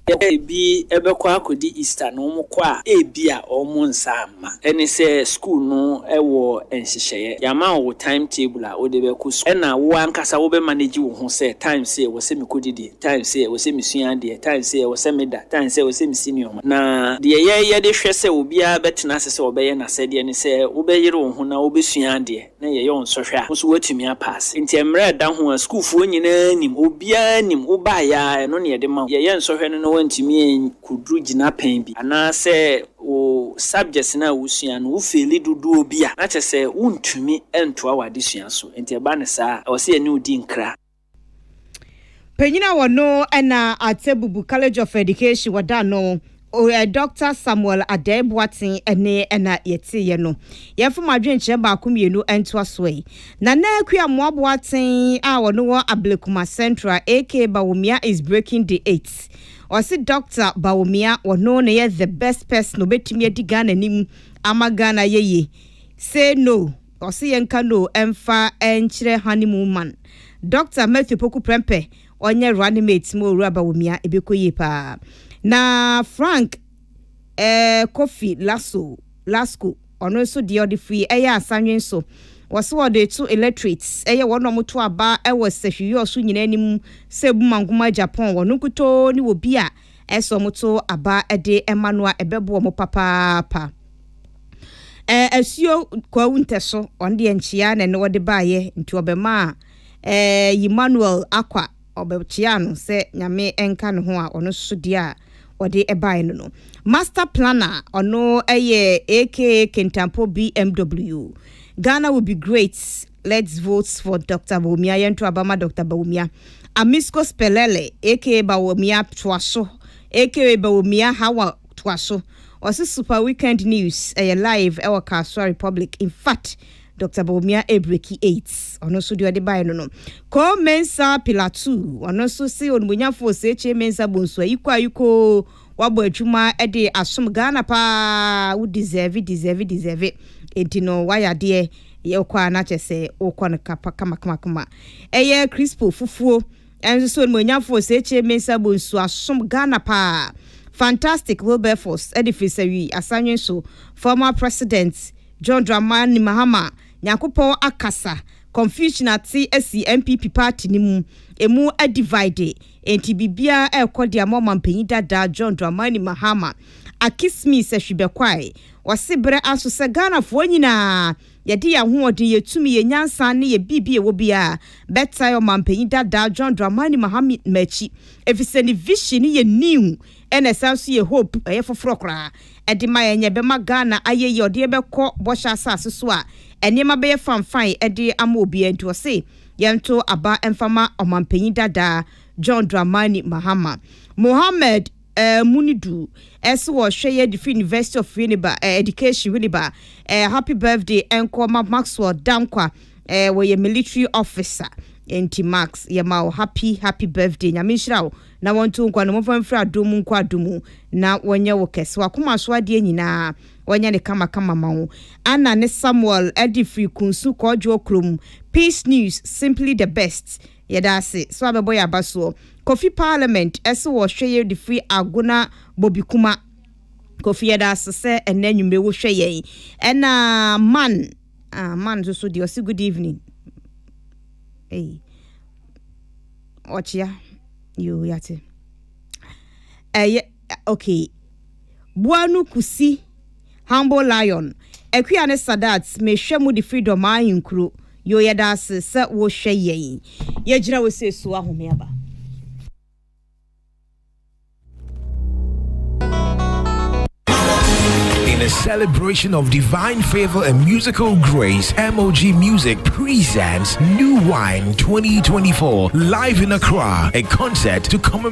Sɛ ebi bɛkɔ akɔdi Easter na wɔkɔ a, ebia wɔn nsa amma. Ɛne sɛ sukuu no wɔ nhyehyɛeɛ. Yɛama wo time table a wode bɛkɔ sukuu. Ɛnna wo ankasa wobɛmanegye wo ho sɛ time sei ɛwɔ sɛ mekɔdidi. Time sɛ ɛwɔ sɛ mesua adeɛ, time sɛ ɛwɔ sɛ meda, time sɛ ɛwɔ sɛ mesi nneɛma. Na deɛ yɛyɛ de hwɛ sɛ obiara bɛtena ase sɛ ɔbɛyɛ n'asɛdeɛ ne sɛ wobɛyere wo ho na wobɛsua adeɛ na yɛyɛ wo nsɔhwɛ a, wo nso woatumi apaase. Enti mmerɛ a ɛda ho a sukuufoɔ nyinaa nim, obiara nim, wobaeɛ ara ɛno na yɛde ma wo. Yɛyɛ nsɔhwɛ no na woantumi ankɔduru gyinapɛn bi anaasɛ wo subjects no a wosua no wofeeli dodoɔ bi a, na kyerɛ sɛ wontumi ntoa w'adesua so. Enti ɛba no saa a, ɛwɔ sɛ yɛne wo di nkra. Panyin a wɔno na Atebubu College of Education wɔda no eh, Dr. Samuel Adɛe Boaten ne ɛna yɛteeɛ no. Yɛmfa mo adwenkyerɛ baako mmienu ntoa so yi. Nana Akua Mmoa Boaten a wɔno wɔ Ablekuma Central aka Bawumia is breaking the eight. Ɔse Dr. Bawumia wɔno na yɛ the best person obɛtumi adi Ghana anim ama Ghana yɛye. Say no. Ɔse yɛnka no mfa nkyerɛ honeymoon man. Doctor Matthew Poku Prempeh ɔnyɛ running mate ma Owura Bawumia ɛbɛkɔ yie paa. Na Frank eh Kofi Lasso, Lasco, ɔno nso deɛ ɔde firi ɛyɛ asanwen so. Ɔse ɔde to electorate ɛyɛ wɔn a wɔto aba ɛwɔ Sɛhwiwiɔ so nyinaa anim sɛ Buma Nguma Japon wɔn nkutoo ne obi a ɛsɛ wɔto aba ɛde ɛma no a ɛbɛboa wɔn papaapa. Ɛɛ asuo kwawu ntɛso ɔno deɛ nkyea na ɛne ɔde baayɛ nti ɔbɛmaa ɛɛ Emmanuel akwa ɔbɛkyea no sɛ nyame nka ne ho a ɔno nso deɛ a ɔde ɛbaeɛ no no. Master planner ɔno ɛyɛ aka Kintampo BMW. Ghana will be great let's vote for Dr. Bawumia yɛnto aba ma Dr. Bawumia. Amisco Spelele aka Bawumia toa so aka Bawumia Hawa toa so. Ɔse Super Weekend News yɛ live ɛwɔ Kasoa Republic infact Doctor Bawumia ɛɛbreki eight ɔno nso deɛ ɔde baeɛ no no. Koo Mensah Pilatou ɔno nso se Onimonyafo Osekyere Mensah Bonsu ayiko ayiko wabɔ adwuma de asom Ghana paa wo deserve deserve deserve enti no wayɛ adeɛ yɛ wokɔ a na kyerɛ sɛ wokɔ no kapa kama kama kama ɛyɛ Crispo Fufuo Ɛnso so animuonyamfo Osetie Mensah Bonsu asom Ghana paa. Fantastic Wilberforce de firi sɛ wi asanwen so Former President John Dramani Mahama Nyankopɔn akasa Confusion ate asi NPP party no mu Ɛmu adivide enti biribiara ɛrekɔ de ama ɔmampanyin dada John Dramani Mahama Akismis Ahwibɛkwae Ɔse berɛ aso sɛ Ghanafoɔ nyinaa yɛde yɛn ahoɔden, yɛn tumi, yɛn nyansa ne yɛn biribi a ɛwɔ biara bɛtae ɔmampanyin dadaa John Dramani Mahama akyi efisɛ ne vision no yɛ new ɛna ɛsan nso yɛ hope, ɛyɛ foforɔ koraa ɛde ma yɛn, ɛbɛma Ghana ayɛ yie, ɔde yɛn bɛkɔ bɔhyɛ asase so a nneɛma bɛyɛ fanfan ɛde ama obiara nti ɔse yɛnto aba mfa ma ɔmampanyin dadaa John Dramani Mahama Mohammed. eh, mu no du eh, se wɔ hwɛ yɛ de firi University of Winneba eh, Education Winneba eh, happy birthday ɛnkɔ ma Maxwell Dankwa eh, wɔ yɛ military officer enti Max yɛ ma wo happy happy birthday nyame nhyira wo na wɔnto nkwa no mɔfa mfiri adom mu nkɔ adom mu na wɔnyɛ wo kɛse wakoma so adeɛ nyinaa wɔnyɛ ne kama kama ma wo Anna ne Samuel ɛde firi kunsu kɔɔdwoɔ kurom peace news simply the best Yɛda ase sɛ wabɛbɔ yɛn abasoɔ. Kofi parliament se wɔ hwɛ yɛ de firi agona bobikuma Kofi yɛda ase sɛ ɛnɛ anwummere wo hwɛ yɛn ɛna man ah man nso so deɛ ɔse good evening ei ɔkyea yoo yate ɛyɛ ok boa no kusi humble lion akua ne sadat me hwɛ mo de freedom ayi nkuro yoo yɛdaase sɛ wo hwɛ yɛn yɛgyina wo sɛ su ahome aba. In a celebration of divine favor and musical grace, MOG Music presents New Wine 2024 live in Accra, a concert to commemorate.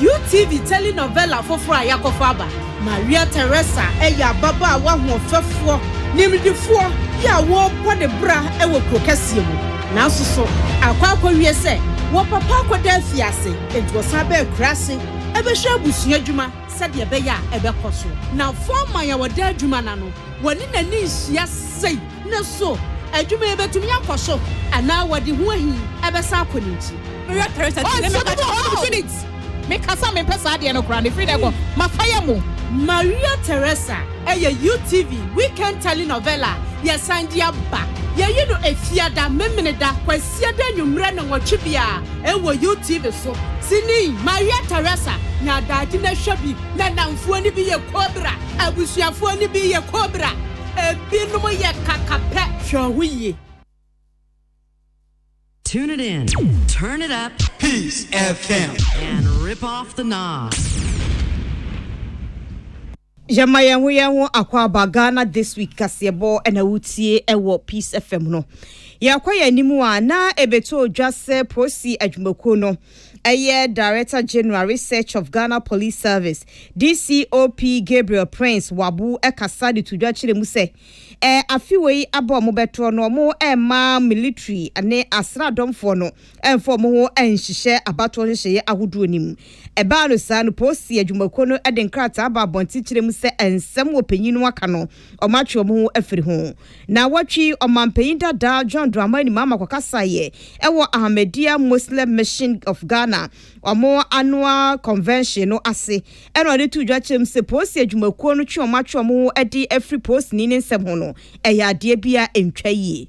UTV telenovela foforo a yɛakɔfa aba. Maria Teresa yɛ ababaawa hoɔfɛfoɔ nimdefoɔ bi a ɔrebɔ ne bra wɔ kuro kɛseɛ mu. Nanso so akɔ akɔwie sɛ wɔn papa akɔda afiase, enti ɔsan ba akuraase bɛhwɛ abusua adwuma sɛdeɛ ɛbɛyɛ a ɛbɛkɔ so. N'afɔɔman a ɔda adwuma no ano, wɔne n'ani nhyia sei. na so adwuma yi betumi akɔ so anaa wɔde ho ahi bɛsan akɔ ne nkyi. Mehwɛ Theresa akyi na meka kyerɛ no, Oh! Felix! Mekasa a mempɛ saa adeɛ no koraa no, ɛfiri nnɛ kɔ, mafa yɛ mo. Maria Teresa ɛyɛ UTV weekend telenovela a yɛsan de aba. Yɛyi no Efiada, Memeneda, Kwasiada anwummerɛ nnɔnwɔtwe biara ɛwɔ UTV so. Sini Maria Teresa ne Adaagye no hwɛ bi. N'adamfoɔ no bi yɛ Cobra, abusuafoɔ no bi yɛ Cobra. Ebinom yɛ kaka pɛ. Hwɛ wo ho yie. Tune it in, turn it up. Peace FM. And rip off the knobs. Yɛma yɛn ho yɛn ho akwaaba Ghana this week kaseɛbɔ na wotie wɔ Peace FM no. Yɛakɔ yɛn anim a na ɛbɛtɔ dwa sɛ Prosi adwumakuo no Ɛyɛ Director General Research of Ghana Police Service, DCOP, Gabriel Prince Wabu kasa de to dwa kyerɛ mu sɛ, ɛɛ afe wei aba wɔn bɛtorɔ no wɔn mma military ne asraadɔmfoɔ no mfa wɔn ho nhyehyɛ abatoɔ nhyehyɛeɛ ahodoɔ no mu. Ɛbaa no saa no, Posi adwumakuo no de nkrataa baa abɔnten kyerɛ mu sɛ nsɛm ɔpanyin no aka no wɔatwe wɔn ho afiri ho. Na wɔtwe ɔmampanyin dada John Dramani Mahama kɔkasaeɛ wɔ Ahmadiyya Muslim Mission of Ghana wɔn annual convention no ase na ɔde too dwa kyerɛɛ mu sɛ polisi adwumakuo no twe wɔn atwe wɔn ho de afiri polisini ne nsɛm ho no ɛyɛ adeɛ bi a ɛntwa yie.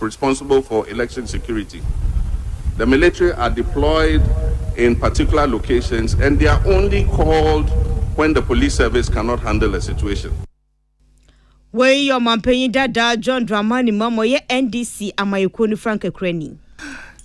responsible for election security, the military are deployed in particular locations and they are only called when the police service cannot handle a situation. Wei yɛ ɔmanpanyin dadaa John Dramani Mahama, ɔyɛ NDC amanyɛkuo no frankakurani.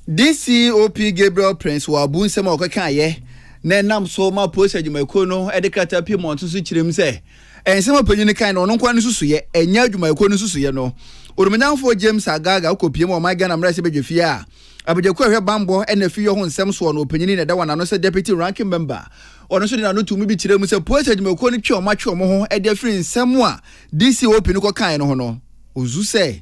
DCOP Gabriel Prince wɔ abu nsɛm a ɔkekaeɛ na ɛnam so ma polisi adwumakuo no de krataa pii mmɔnten so kyerɛɛ mu sɛ Nsɛm a ɔpanyin no kae no, ɔno nko ara ne nsusuiɛ, ɛnyɛ adwumayɛkuo no nsusuiɛ no. Odumanyamfoɔ James Agaga a ɔkɔpuee mu wɔ ɔman Ghana mmarahyɛ badwafie a abadwakuo a ɛhwɛ bammɔ ne afiyɔ ho nsɛm soɔ no ɔpanyin na ɛda wɔn ano sɛ Deputy Ranking Member, ɔno nso de n'ano too mu bi kyerɛɛ mu sɛ Polisi adwumayɛkuo no twe wɔn atwe wɔn ho de afiri nsɛm a DCOP no kɔkaeɛ no ho no, ɔsu sɛ.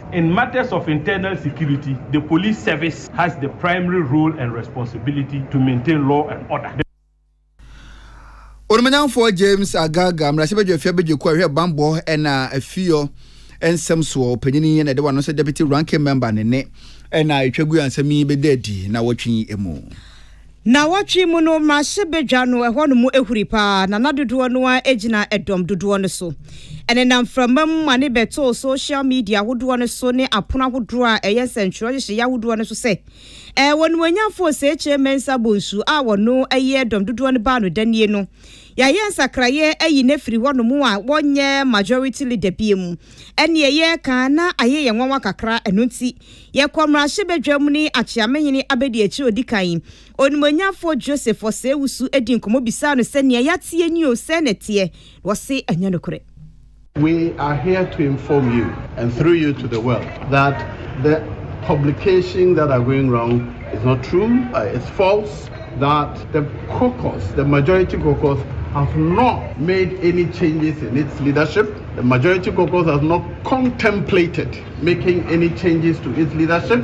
In matters of internal security, the police service has the primary role and responsibility to maintain law and order. Onumonyamfoɔ James Agaga, mmarahyɛbadwafie abadwakuo a ɛhwɛ bammɔ na afiyɔ nsɛm soɔ ɔpanyin yi na ɛde wano sɛ deputy ranking member ne ne na ɛtwa gu a nsɛm yi bɛda adi na wɔtwe mu. Naawɔtwe mu no, mmarahyɛbadwa no ɛhɔ no mu ahuri paa, na na dodoɔ no ara gyina ɛdɔm dodoɔ no so. Ɛnenam mframa mu ma ne bɛtoo social media ahodoɔ no so ne apono ahodoɔ a ɛyɛ nsɛntwerɛ nhyehyɛeɛ ahodoɔ no so sɛ, Ɛɛ Onimuonyamfo Osekyere Mensah Bonsu a ɔno yɛ ɛdɔm dodoɔ no baanodɛ nie no, yɛayɛ nsakraeɛ ayi no afiri hɔ nom a wɔnyɛ majority leader bio mu. Ɛneɛ yɛreka na ayɛ yɛn nwanwa kakra, ɛno nti Yɛkɔ mmarahyɛbadwam ne Akyeamehene abadiakyiri a odi kan yi, Onimonyamfoɔ Joseph Osei-Wusu dii nkɔmmɔ bisaa no sɛ, Nea yɛateɛ ni o, sɛn na ɛteɛ? Na ɔse, Ɛnyɛ nokorɛ. We are here to inform you and through you to the world that the publications that are going round is not true, it's false, that the caucus, the majority caucus has not made any changes in its leadership, the majority caucus has not contemplated making any changes to its leadership.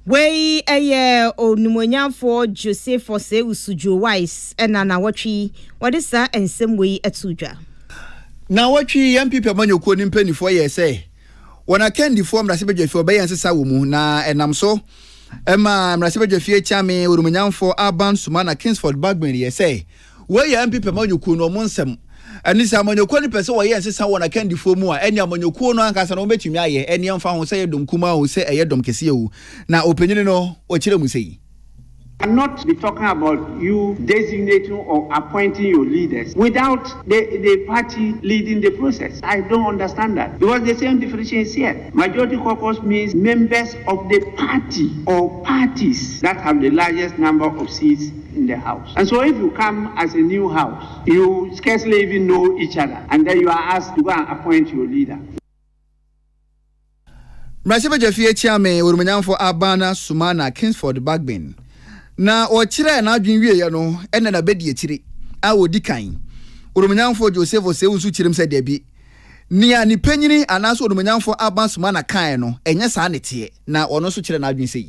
Wei yɛ Onumonyamfoɔ Jose Force Usudjo Wise na nawɔtwe yi wɔde saa nsɛm wei too dwa. Nawɔtwe yi yɛn PP amanyɔkuo no mpaninfoɔ yɛɛ sɛ wɔn akandifoɔ mmarahyɛbadwafie ɔbɛyɛ nsesa wɔ mu na ɛnam so maa mmarahyɛbadwafie kyeame Onumonyamfoɔ Alban Sumana Kingsford Bagbin yɛɛ sɛ Wei yɛ NPP amanyɔkuo no wɔn nsɛm. Ɛne sɛ amanyɔkuo no pɛ sɛ wɔyɛ nsesa wɔn akandifoɔ mu a, ɛneɛ amanyɔkuo no ankasa no wɔbɛtumi ayɛ, ɛneɛ ɛmfa ho sɛ ɛyɛ dɔm kumaa o, sɛ ɛyɛ dɔm kɛseɛ o. Na ɔpanyini no ɔkyerɛ mu sei. I'm not be talking about you designating or appointing your leaders without the the party leading the process. I don't understand that because the same definition is here. Majority caucus means members of the party or parties that have the largest number of seats in the house and so if you come as a new house you scarcely even know each other and then you are asked to go and appoint your leader. Mmarahyɛbadwa fie akyia me Ɔrumanyamfo Abana Sumana Kingsford Bagbin na ɔkyerɛɛ n'adwene wieeɛ no ɛnna na bɛdi akyire a ɔdi kan Ɔrumanyamfo Joseph Oseu nso kyerɛm sɛ dabi nea ne panyini anaasɛ Ɔrumanyamfo Abana Sumana kaeɛ no ɛnyɛ saa ne teɛ na ɔno nso kyerɛɛ n'adwene sei.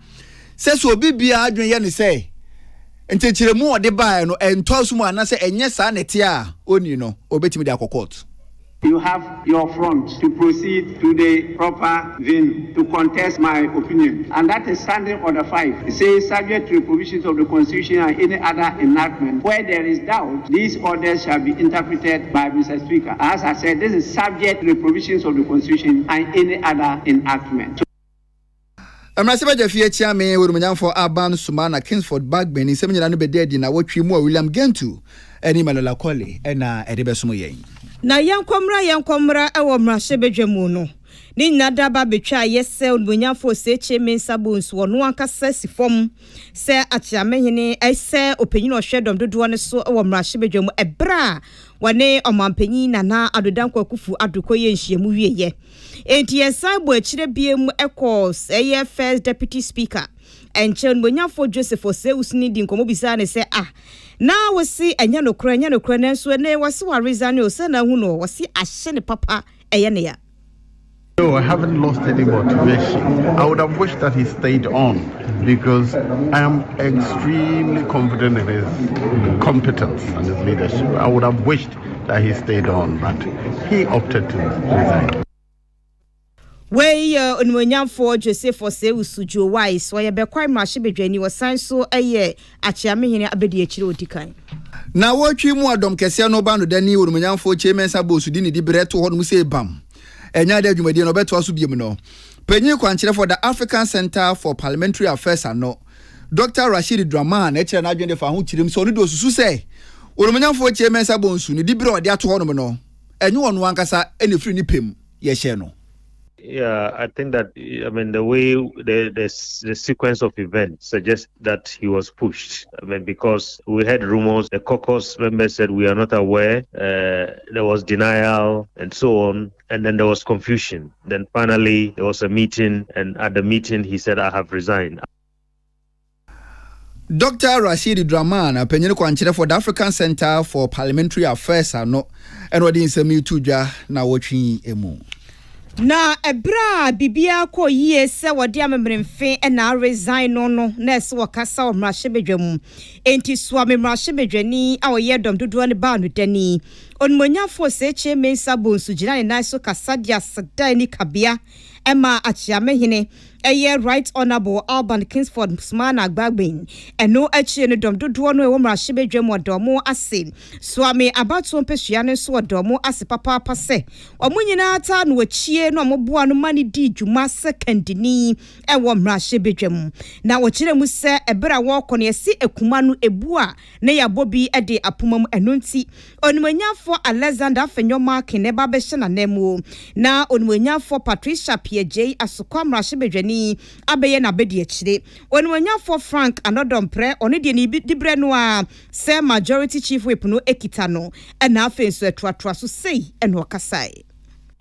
sɛ sɛ obi biara adwene yɛ ne sɛ nkyekyeremu a ɔde baeɛ no ɛntɔ so mu anaasɛ ɛnyɛ saa na ɛteɛ a ɔnni no, ɔbɛtumi de akɔ kɔɔto. You have your front to proceed to the proper venue to contest my opinion and that is Standing Order five. It says subject to the provisions of the Constitution and any other enactment where there is doubt these orders shall be interpreted by Mister Speaker. As I said, this is subject to the provisions of the Constitution and any other enactment. Mmarahyɛbadwa fie akyia me wɔ Animuonyamfoɔ Aban Suma na Kingsford Bagbin nsɛm nyinaa no bɛda adi nnawɔtwe mu a William Gentu ne Malola Kole na ɛde bɛsom yɛn. Na yɛnkɔ mmra yɛnkɔ mmra wɔ mmarahyɛbadwa mu no ne nyinaa da ba bɛtwa ayɛ sɛ Onimuonyamfoɔ Osekyere Mensah Bonsu ɔno ankasa si fam sɛ Akyeamehene sɛ ɔpanyin a ɔhwɛ dɔm dodoɔ no so wɔ mmarahyɛbadwa mu ɛberɛ a wɔne Ɔmanpanyin Nana Addo Dankwa Akuffo Addo kɔyɛɛ nhyiamu wieɛ. Enti yɛsan bɔ akyire biam kɔɔ ɛyɛ First Deputy Speaker nkyɛn, Onimonyamfoɔ Joseph Osei-Usini dii nkɔmmɔ bisaa no sɛ, Ah, na wose ɛnyɛ nokorɛ, ɛnyɛ nokorɛ, nanso ɛnnɛ wɔse waresane o, sɛn na ahu no? Wɔse ahye no papa, ɛyɛ no ya. No, I haven't lost any motivation. I would have wished that he stayed on because I am extremely confident in his competence and his leadership. I would have wished. Wei yɛ Onimuonyamfoɔ Joseph Osei Usujuo Wise, ɔyɛ Bekwai Mmarahyɛbadwani, ɔsan so yɛ Akyeamehene Abadiakyire a ɔdi kan. Nawɔtwe mu a dɔm kɛseɛ no ba no da ni Onimuonyamfoɔ Kyei Mensah Bowsu de ne diberɛ too hɔnom sɛ bam ɛnyɛ ade a dwumadie no ɔbɛtoa so biom no. Panyin kwankyerɛfoɔ da African Centre for Parliamentary Affairs ano. Dɔkta Rashid Draman kyerɛ n'adwene de fa ho kyerɛm sɛ ɔno de osusu sɛ Ɔnumonyamfoɔ Kyei Mensah Bonsu ne diberɛ a ɔde ato hɔnom no, ɛnyɛ ɔno ankasa na ɛfiri ne pɛ mu yɛhyɛɛ no. Yeah, I think that I mean the way the the, the sequence of events suggests that he was pushed. I mean because we heard rumors. The caucus members said we are not aware. Uh, there was denial and so on. and then there was confusion then finally there was a meeting and at the meeting he said I have resigned. Doctor Rashid Draman, panyin kwankyerɛ for the African Center for Parliamentary Affairs ano, ɛna ɔde nsɛm yi to dwa na wɔtwe yi emu. Na ɛberɛ a biribiara kɔɔ yie sɛ wɔde amemeremfe na aresign no no, na ɛsɛ wɔkasa wɔ mmarahyɛbadwa mu. Enti Suame mmarahyɛbadwani a ɔyɛ dɔm dodoɔ no baa no dani. Onumonyamfo Osetie Mensah Bonsu gyinaa ne nan so kasa de aseda ani kabea maa Akyeame Hene, ɛyɛ Right Honourable Alban Kingsford Sumana Gbagbin. Ɛno akyiri no, dɔm dodoɔ no a ɛwɔ mmarahyɛbadwam wɔda wɔn ase. Suame abatoɔ mpasua no nso wɔda wɔn ase papaapa sɛ wɔn nyinaa taa no akyie na wɔboaa no ma no dii dwuma sɛ kandini wɔ mmarahyɛbadwam. Na wɔkyerɛɛ mu sɛ ɛberɛ a wɔrekɔ no, yɛse akuma no, ɛbu a. na yɛabɔ bi de apoma mu. Ɛno nti, Onumonyamfoɔ Alexander Afenyo-Markin na ɛba abɛhyɛ n'ananmuo, na Onumonyamfoɔ Patricia Pierre-Gyei Asokwa Mmarahyɛbadwani abɛyɛ n'abadiakyire. Onumonyamfoɔ Frank Anodɔmprɛ, ɔno deɛ ne diberɛ no ara sɛ Majority Chief Whip no kita no, na afei nso ɛtoatoa so sei na ɔkasaeɛ.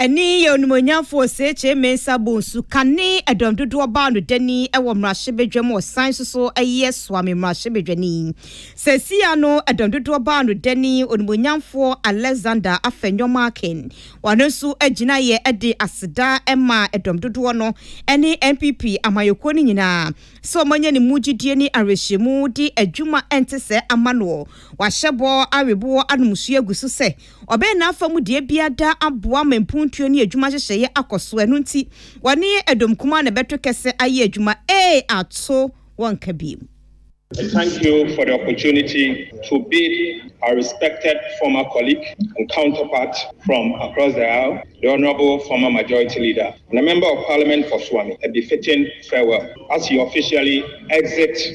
Ɛne yɛ onimonyamfo Osekyere Mensah Bonsu kane ɛdɔm dodoɔ baa no dani wɔ mmarahyɛbadwa mu ɔsan nso so yɛ Suame mmarahyɛbadwani. Seesei ano ɛdɔm dodoɔ baa no dani onimonyamfoɔ Alexander Afenyo Markin. Ɔno nso gyinaeɛ de aseda maa ɛdɔm dodoɔ no ne NPP amanyɔkuo no nyinaa sɛ wɔanya ne mu gyidie ne awerɛhyɛmu de adwuma ɛnte sɛ ama noɔ. Wahyɛ bɔ aweboɔ anom nsuo agu so sɛ ɔbɛyɛ n'afa mu deɛ biara daa aboa ma mpuntuo ne adwuma nhyehyɛeɛ akɔ so, ɛno nti wɔne Edom kumaa na ɛbɛto kɛsɛ ayɛ adwuma, ee ato wɔnka bio. Thank you for the opportunity to bid our respected former colleague and counterpart from across the aisle, the Honourable former Majority Leader and a Member of Parliament for Suami a befitting farewell as he officially exits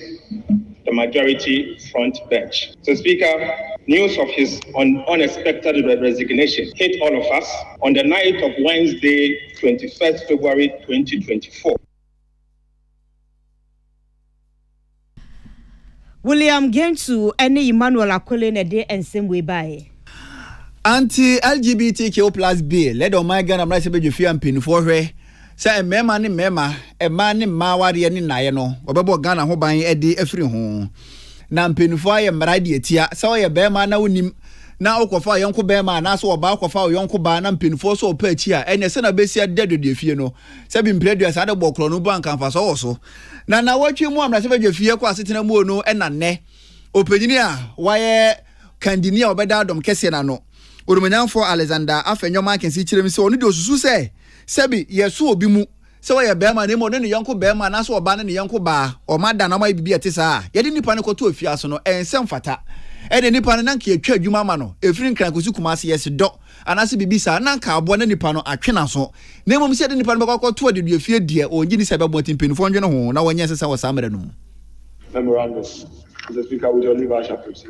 the Majority front bench. So Speaker, news of his un unexpected re resignation hit all of us on the night of Wednesday, twenty first February, twenty twenty four. William Gentu ne Emmanuel Akole na ɛde nsɛm wei baeɛ. Anti-LGBTQ plus bill, ɛde ɔman Ghana mmarahyɛbadwafie a mpanyinfoɔ hwɛ Sɛ mmarima ne mmarima, mmaa ne mmaa awareɛ ne nnaeɛ no, wɔbɛbɔ Ghana ho ban de afiri ho. Na mpanimfoɔ ayɛ mmara de atia. Sɛ woyɛ barima na wonim na wokɔfa ɔyɔnko barima anaasɛ ɔbaa kɔfa ɔyɔnko baa na mpanimfoɔ sɛ ɔpɛ akyi a, ɛneɛ sɛ na bɛsi ade da dwadwa fie no. Sɛ bi mpere aduasa ade bɔ korɔ no mpo anka mfasoɔ wɔ so. Na nawɔtwe mu a mmarahyɛ badwa fie kɔ asetena muo no ɛna nnɛ. Ɔpanyini a wayɛ kandini a ɔbɛda adom kɛseɛ no ano, Odumanyamfoɔ Alexander Afenyo Markins kyerɛ mu sɛ ɔno deɛ ɔsusu sɛ, Sɛ bi, yɛso obi mu sɛ ɔyɛ barima na mmom ɔne ne yɔnko barima anaasɛ ɔbaa ne ne yɔnko baa, wɔn ada anaa wɔayɛ biribi a ɛte saa a, yɛde nipa no kɔto afiase no, ɛyɛ nsɛm fata. Ɛnde nipa no, na anka yɛatwa adwuma ama no, ɛfiri Nkran kɔsi Kumasi, yɛse dɔ, anaasɛ biribi saa, na anka aboa na nipa no atwe n'aso. Na mmom sɛ yɛde nipa no bɛkɔ akɔto adeduafie deɛ, wɔnnye nni sɛ ɛbɛboa, nti mpanimfoɔ nnwene ho na wɔnyɛ nsesa wɔ saa mmerɛ no mu. Memorandum, Mr. Speaker, with your leave I shall proceed.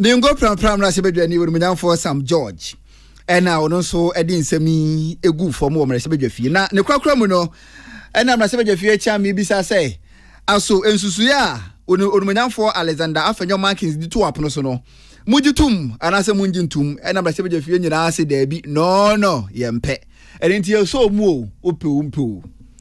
ne ngo prampram no ahyɛbadwani wɔ nomonyamfoɔ sam george ɛna ɔno nso de nsɛm yi egu fam wɔ mmarahyɛbadwa fie na ne korakora mu no ɛna mmarahyɛbadwa fie akyia me bisa sɛ aso nsusuiɛ a onumonyamfoɔ alexander afanyɔ markins de to apono so no mogye tom anaasɛ mongye ntom ɛna mmarahyɛbadwa fie nyinaa se daabi no no yɛmpɛ ɛne nti yɛsɔɔ mu o wopɛ o mpɛ o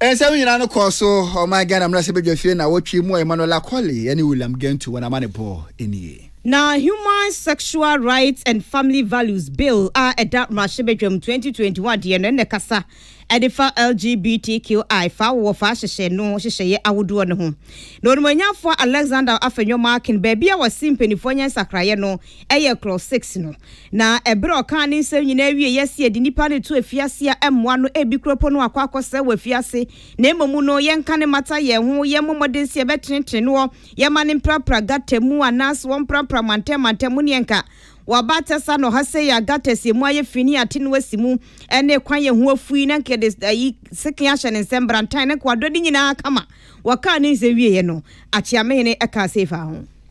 nsɛm nyinaa no kɔɔ so ɔman ghana mmarahyɛbadwafie na wɔtwe mu a emmanuel akɔle ne william gantu wɔn ama ne bɔ nie Na Human Sexual Rights and Family Values Bill a ɛda mmarahyɛbadwam 2021 deɛ no ɛna ɛkasa ɛde fa LGBTQI fa awowɔfa ahyehyɛ no hyehyɛeɛ ahodoɔ no ho. Na Onimɔnyanfoɔ Alexander Afenyo Markin baabi a wɔse mpanimfoɔ nyɛ nsakraeɛ no ɛyɛ Clause six no. Na ɛberɛ a ɔkaa ne nsɛm nyinaa wieeɛ sɛ yɛde nnipa no reto afiase a ɛmmoa no, ɛbi koraa mpo no akɔ akɔsɛe wɔ afiase, na mmom no yɛnka no mmata yɛn ho, yɛmmɔ mmɔden sɛ yɛbɛtenetene noɔ, yɛmma no mprapra gutter mu, anaase ɔmprapra mantam mantam mu, ne ɛnka waba atɛsa na ɔha sei a gutters ɛmu ayɛ fi ne yɛate no asi mu, ɛne kwan a ɛho afu yi, na nka yɛde ayi sekan ahyɛ ne nsam, brantan, na nka wadɔ ne nyinaa kama. Wɔkaa ne nsɛm wieeɛ no, Akyeamehene kaa sei faa ho.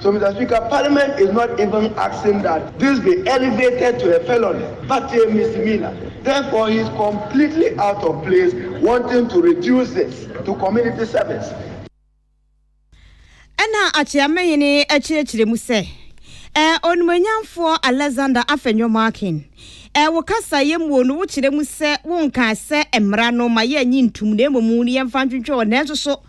So Mister Speaker, Parliament is not even asking that this be elevated to a felony but a misdemeanor, therefore he is completely out of place wanting to reduce it to community service. Ɛnna Akyeame hene kyerɛkyerɛ mu sɛ, Ɛɛ, Onimuonyamfoɔ Alexander Afenyo-Markin, ɛɛ, wo kasaeɛ muo no wokyerɛ mu sɛ wonkaa sɛ mmara no ma yɛnnye ntum na mmom yɛmfa ntwentwɛn wɔn nanso so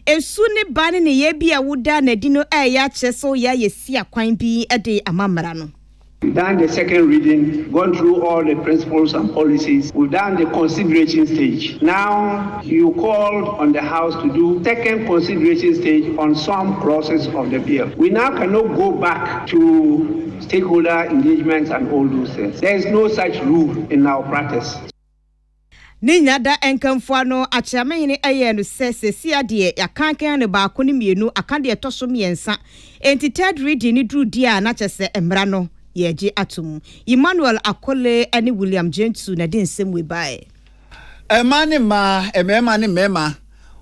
Esu ne ba ne neyɛɛ bi a wodaa no adi no ɛɛyɛ akyerɛ sɛ woyɛ ayɛ sia kwan bi de ama mmara no. Dan the second reading gone through all the principles and policies we dan the consideration stage now you called on the house to do second consideration stage on some clauses of the bill we now cannot go back to stakeholder engagement and all those things there is no such rule in our practice. Ne nya da nkamfo ano, Akyeamehene ɛyɛɛ no sɛ sesia deɛ yɛakankan no baako ne mmienu aka deɛ ɛtɔ so mmiɛnsa enti third reading no duru deɛ a na kyɛ sɛ mmara no yɛregye atom. Emmanuel Akole ne William Gyentu na ɛde nsɛm wei baeɛ. Mmaa ne mmaa, mmarima ne mmarima,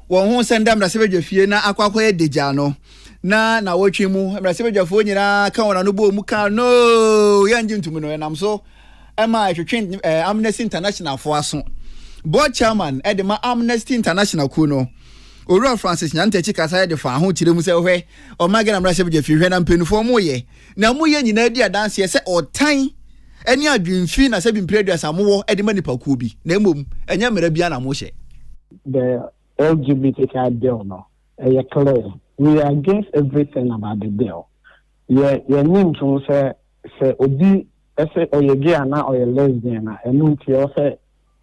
wɔn ho sɛ nda mmarahyɛbadwafie na akɔ akɔyɛ dagya no na nawɔtwe mu mmarahyɛbadwafoɔ nyinaa ka wɔn ano bɔɔ mu kaa noo yɛngye ntom no, ɛnam so. ma ɛtwetwe Amnesty International fo aso. Board Chairman de ma Amnesty International kuo no, Owura Francis Nyantakyi kasaeɛ de faa ho kyerɛ mu sɛ hwɛ ɔman Ghana mmarahyɛbadwa fie hwɛ na mpaninfoɔ ɔmo yɛ na ɔmo yɛ nyinaa di adanseɛ sɛ ɔtan ne adwenfi na sɛbi mpire aduasa ɔmo wɔ de ma nipa kuo bi na mmom ɛnyɛ mmara biara na ɔmo hyɛ. The LGBTQI bill no ɛyɛ clear we are against everything about the bill yɛ yɛ nye ntom sɛ sɛ obi. Ɛsɛ ɔyɛ gay anaa ɔyɛ lesbian a ɛno nti ɛwɔ sɛ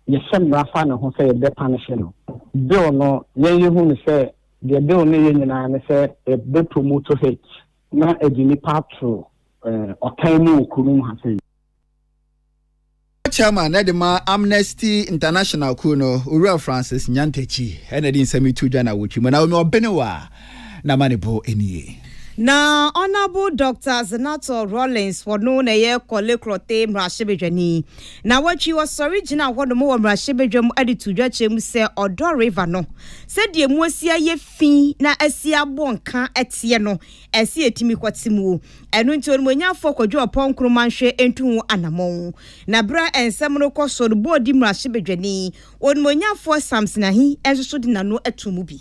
yɛhyɛ mmara fa ne ho sɛ yɛbɛ panishe no. Bill no yɛn yɛ hu no sɛ deɛ bill no yɛ nyinaa ne sɛ ɛbɛ promoto hate na ɛde nnipa ato ɔtan mu wɔ kuro mu ha sei. Chairman na ɛde ma Amnesty International kuo no, Owura Francis Nyantakyi na ɛde nsɛm yi to dwa na awotwi mu. Naomi Obenewa. N'amanebɔ nie. Na Honourable Doctor Zenator Rawlings wɔ no na ɛyɛ Korle Klothe mmarahyɛbadwani. Na wɔtwi ɔsɔre gyinaa hɔ nom wɔ mmarahyɛbadwa mu de too dwa kyerɛ mu sɛ Ɔdɔ River no sɛdeɛ ɛmu asi ayɛ fi na asi abɔ nka teɛ no ɛsɛ yɛtumi kɔte mu. Ɛno nti Onimɔnyafoɔ Kwadwo Ɔpɔn Nkrumah nhwɛ ntu ho anamɔn. Na berɛ a nsɛm no rekɔ so no Boadi mmarahyɛbadwani Onimɔnyafoɔ Samson Ahi nso so de n'ano too mu bi.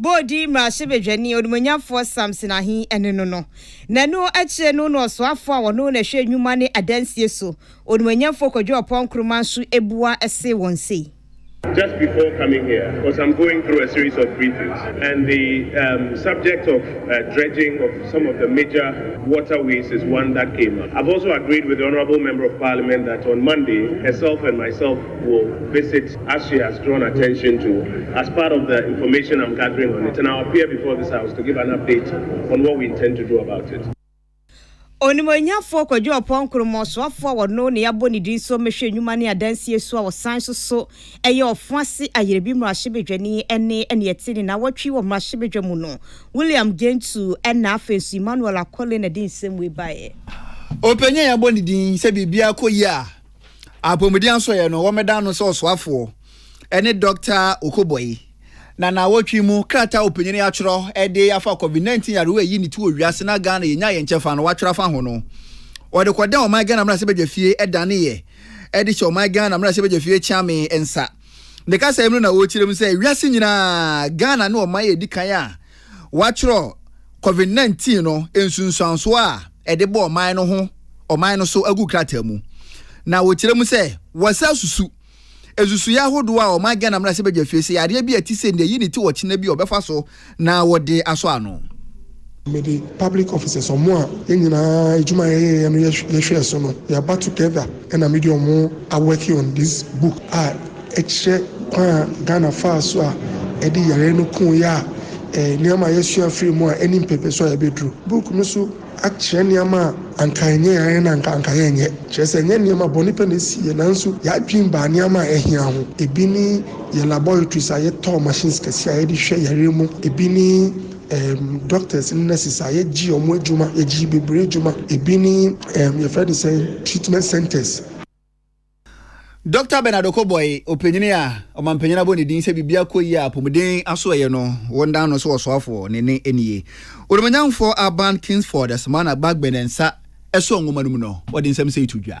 Bɔ odin mmarahyɛbadwani onimuonyamfoɔ Samson Ahi ne no no. Na ɛno akyire no na ɔsoafoɔ a ɔno na ɛhwɛ nnwuma ne adansie so, onimuonyamfoɔ Kwadwo Ɔpɔn Nkrumah nso bua see wɔn sei. Just before coming here cause I'm going through a series of briefings and the um subject of dredging of some of the major water ways is one that came up. I've also agreed with the Honourable Member of Parliament that on Monday herself and myself Wo visit Asui has drawn attention to as part of the information I'm gathering on it and I'll appear before this house to give an update on what we intend to do about it. Onimuonyafoɔ Kwadu Ɔpɔn Nkrumah Soafoɔ a ɔno na yɛabɔ ne din so mmɛhwɛ nnwuma ne adansie so a ɔsan so so yɛ ɔfo ase ayerɛbi mmarahyɛbadwani ne nea ɛte ne nnawɔtwe wɔ mmarahyɛbadwa mu no William Gyentuu na afei nso Emmanuel Akole na ɛde nsɛm wei baeɛ. Ɔpanyin a yɛabɔ ne din sɛ biribiara kɔ yie a Apɔmuden Asɔeɛ no, wɔmeda no sɛ ɔsoafoɔ ne Dɔkta Okoboyi, na naawɔtwe mu krataa a ɔpanyin atwerɛ de afa Covid-19 yarewa ɛyi ne ti wɔ wiase na Ghana yɛnya yɛn kyɛfa no watwerɛ afa ho no, ɔde kɔdan Ɔman Ghana Mmarahyɛbadwafie daneeɛ de hyɛ Ɔman Ghana Mmarahyɛbadwafie Kyeame nsa. Ne kasaɛ mu no na ɔrekyerɛ mu sɛ wiase nyinaa Ghana ne ɔman a ɛdi kan a wɔatwerɛ Covid nineteen no nsunsuansoɔ a ɛde bɔ ɔman no ho ɔman no so agu krataa mu, na wɔkyerɛ mu sɛ wɔsan asusu nsusuiɛ ahodoɔ a ɔman Ghana mmarahyɛbadwa fie sɛ yadeɛ bi a ɛte sei deɛ yei na ɛti ɔkyena bi a wɔbɛfa so na wɔde asɔ ano. Mede public officers, wɔn a yɛn nyinaa adwuma a yɛyɛeɛ no yɛhwɛɛ so no, yɛaba together. Ɛna me de ɔmo a working on this book a ɛkyerɛ kwan a Ghana faa so a ɛde yareɛ no koo yɛ a ɛɛ nneɛma a yɛsua firi mu a ɛne mpɛpɛsu a yɛbɛduru. Book no so akyerɛ nneɛma a anka ɛnyɛ yareɛ no a anka anka yɛnyɛ. Kyerɛ sɛ ɛnyɛ nneɛma bɔne pɛ na ɛsii yɛ nanso yɛadwene baa nneɛma a ɛhia ho. Ɛbi ne yɛ laboratories a yɛtɔɔ machines kɛseɛ a yɛde hwɛ yareɛ mu. Ɛbi ne. Ɛɛm doctors ne nurses a yɛgye ɔmo adwuma, yɛgye bebree adwuma, ebi ne ɛɛm yɛfrɛ no sɛn treatment centres. Doctor Bernard Okoboy, ɔpanyini a ɔmampanyin abɔ ne din sɛ biribiara kɔ yie a apɔmuden aso ɛyɛ no, wɔdan no sɛ ɔsoafoɔ, ne nne nie. Odumanyamfoɔ Aban Kingsford Asmana Gbagbene nsa ɛsɔ nwoma no mu no, ɔde nsɛm sei to dwa.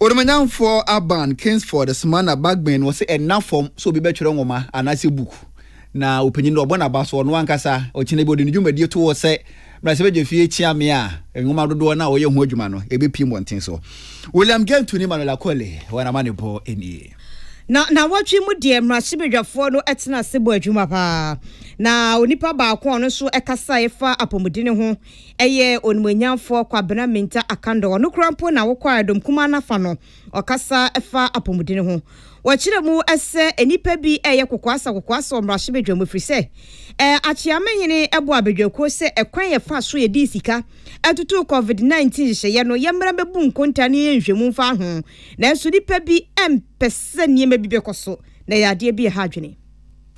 Odumanyamfoɔ Aban Kingsford soma na Bagben wɔ se ɛnna fam sɛ obi bɛtwerɛ nwoma anaasɛ book na ɔpanyin no ɔbɔ n'aba so ɔno ankasa ɔkyena bi ɔde ne dwumadie to hɔ sɛ Mmarahyɛbadwafie kyea me a nwoma dodoɔ no a ɔyɛ ho adwuma no ɛbɛpue mmɔnten so. William Gentoo ne Emmanuel Akole wɔn amanebɔ nie. Na nawɔtwe mu deɛ Mmarahyɛbadwafoɔ no tena ase bɔ adwuma paa na onipa baako a ɔno nso kasaeɛ fa apɔmuden ho Ɛyɛ Onimuonyamfoɔ Kwabena Mintah Akandaw, ɔno koraa mpo na wokɔ a dɔm kumaa no afa no, ɔkasa fa apɔmuden ho. Wɔkyerɛ mu sɛ nnipa bi reyɛ kokoasa kokoasa wɔ mmarahyɛbadwa mu ɛfiri sɛ Akyeame hene bɔɔ abadwakuo sɛ ɛkwan a yɛfa so yɛde sika tutu Covid 19 nhyehyɛeɛ no yɛmmra mmɛbu nkontaa na yɛnhwɛ mu mfa ho nanso nnipa bi mpɛ sɛ nneɛma bi bɛkɔ so na ɛyɛ adeɛ bi a ɛha adwene.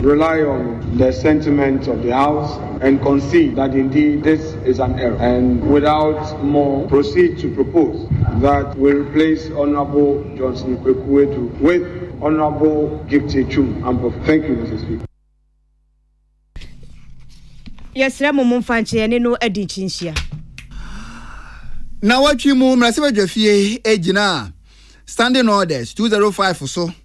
rely on the sentiment of the house and concede that indeed this is an error and without more proceed to propose that we replace Honourable Johnson Kweku Edu with Honourable Gifty Twum Ampofo. Thank you, Mr. Speaker. Yɛsrɛ mo momfa nkyɛ yɛne no adi nkyinhyia. Nawɔtwe mu mmarahyɛbadwafie gyinaa standing orders 205 so.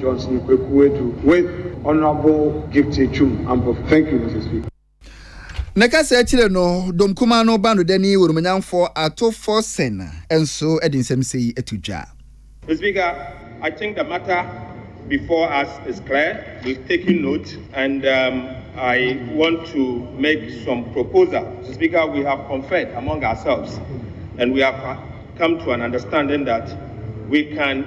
Johnson Kweku Adu with Honourable Gifty Twum Ampofo. Thank you Mister Speaker. Ne kasa akyire no, dɔm kumaa no bandodani Woromnyamfoɔ Ato Forson nso de nsɛm sei to dwa. Mister Speaker, I think the matter before us is clear, we've taken note and um, I want to make some proposal. Mister Speaker, we have conferred among ourselves and we have come to an understanding that we can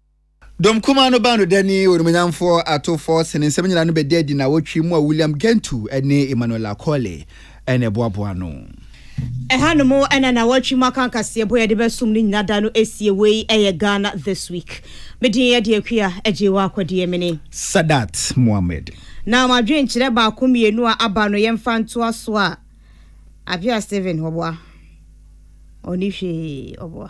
Dɔm kumaa no baa no dɛ ne onimuonyamfo atowfo sen nsɛm nyinaa no bɛdaa adi nnawɔtwe mu a William Gentoo ne Emmanuela Colle na ɛboaboaa ano. Ɛhanom na nnawɔtwe mu akanka seɛbo a yɛde bɛsom no nyina da no asie. Wei yɛ Ghana This Week. Me din yɛ Deɛ Kua Agyei Waakwa Deɛ me ne. Sadat Mohammed. Na mo adwenkyerɛ baako mmienu a aba no yɛmfa ntoa so a, Appiah Stephen, ɔboa? Ɔnni hwee, ɔboa?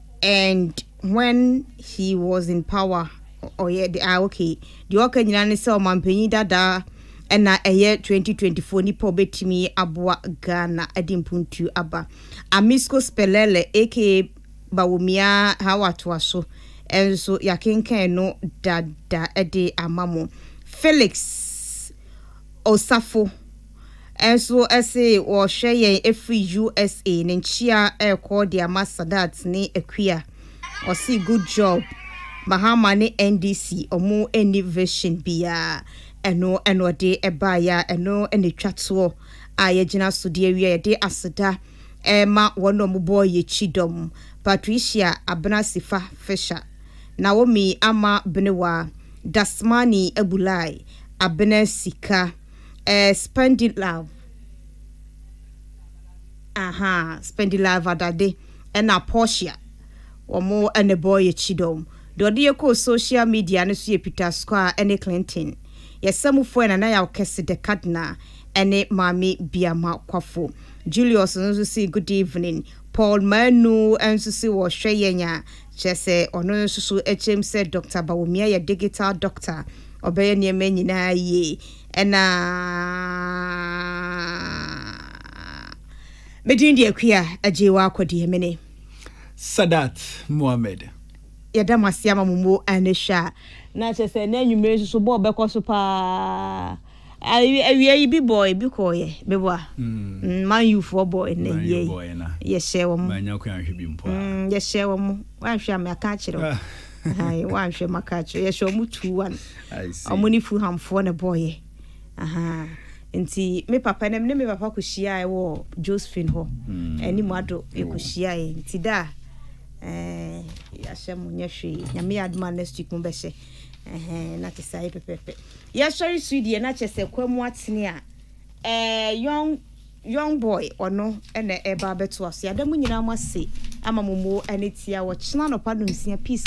And when he was in power, ɔyɛ de ah okay, deɛ ɔka nyinaa ne sɛ ɔmanpanyin dada ɛna ɛyɛ 2024 nipa ɔbɛtumi aboa Ghana ɛde mpuntuo aba. Amisco Spelele aka Bawumia how atoa so ɛnso yakenkan no dada ɛde ama mo. Felix Osafo. nso se wɔrehwɛ yɛn afiri usa ne nkyia rekɔ de ama sadat ne akua ɔse good job mahama ne ndc ɔmo nni vision biaa ɛno ɛna ɔde ɛbaeɛ a ɛno na ɛtwa toɔ a yɛgyina so de awia yɛde aseda ɛma wɔn na ɔmo bɔɔ yɛkyi dɔm patricia abena sifa fisher naomi ama benewa dasmani abulai abena sika eh, Spendilove, aha, Spendilove Adade, ɛna Portia, wɔn ɛna bɔ yɛ kyidɔm. Deɛ ɔde yɛ kɔɔ social media no so yɛ Peter Squire ɛne Clinton. Yɛ samufoɔ yɛ Nana Yaw Kɛse the Kadna ɛne Maame Biama Kwafo. Julius nso se good evening. Paul Manu nso se wɔhwɛ yɛn a Kyerɛ sɛ ɔno nso so kyerɛm sɛ Dɔkta Bawumia yɛ digital doctor, ɔbɛyɛ nneɛma nyinaa yie. Ɛna me din de Akua Agyeewa Akɔdeɛ, me ne. Sadat Mohammed. Yɛda mo ase ama mo mu anihwɛ a. Na kyerɛ sɛ ɛnnɛ anwummere nso so bɔɔl bɛkɔ so paa. Awiei bi bɔɔe bi kɔɔeɛ meboa Man U foɔ bɔɔe na awiei yɛhyɛɛ wɔn yɛhyɛɛ wɔn woanhwɛ a maka akyerɛ wo ahan woanhwɛ maka akyerɛ yɛhyɛ wɔn two one wɔn ne Fulham foɔ na bɔɔeɛ ahan nti me papa ne me papa kɔhyiae wɔ Josephine hɔ anim ado yɛkɔhyiae nti da a Eh, yɛahyɛ mo nyɛ hwee nyame yɛ adoma next week mobɛhyɛ na te sɛ ayɛ pɛpɛpɛ Yɛsɔre su deɛ na kyɛsɛ kwamu atene a ɛɛ young young boy ɔno ɛna ɛba abɛtoa so yɛada mu nyinaa mo ase ama mo mo ɛne tia wɔ kyena nɔpa no nsia peace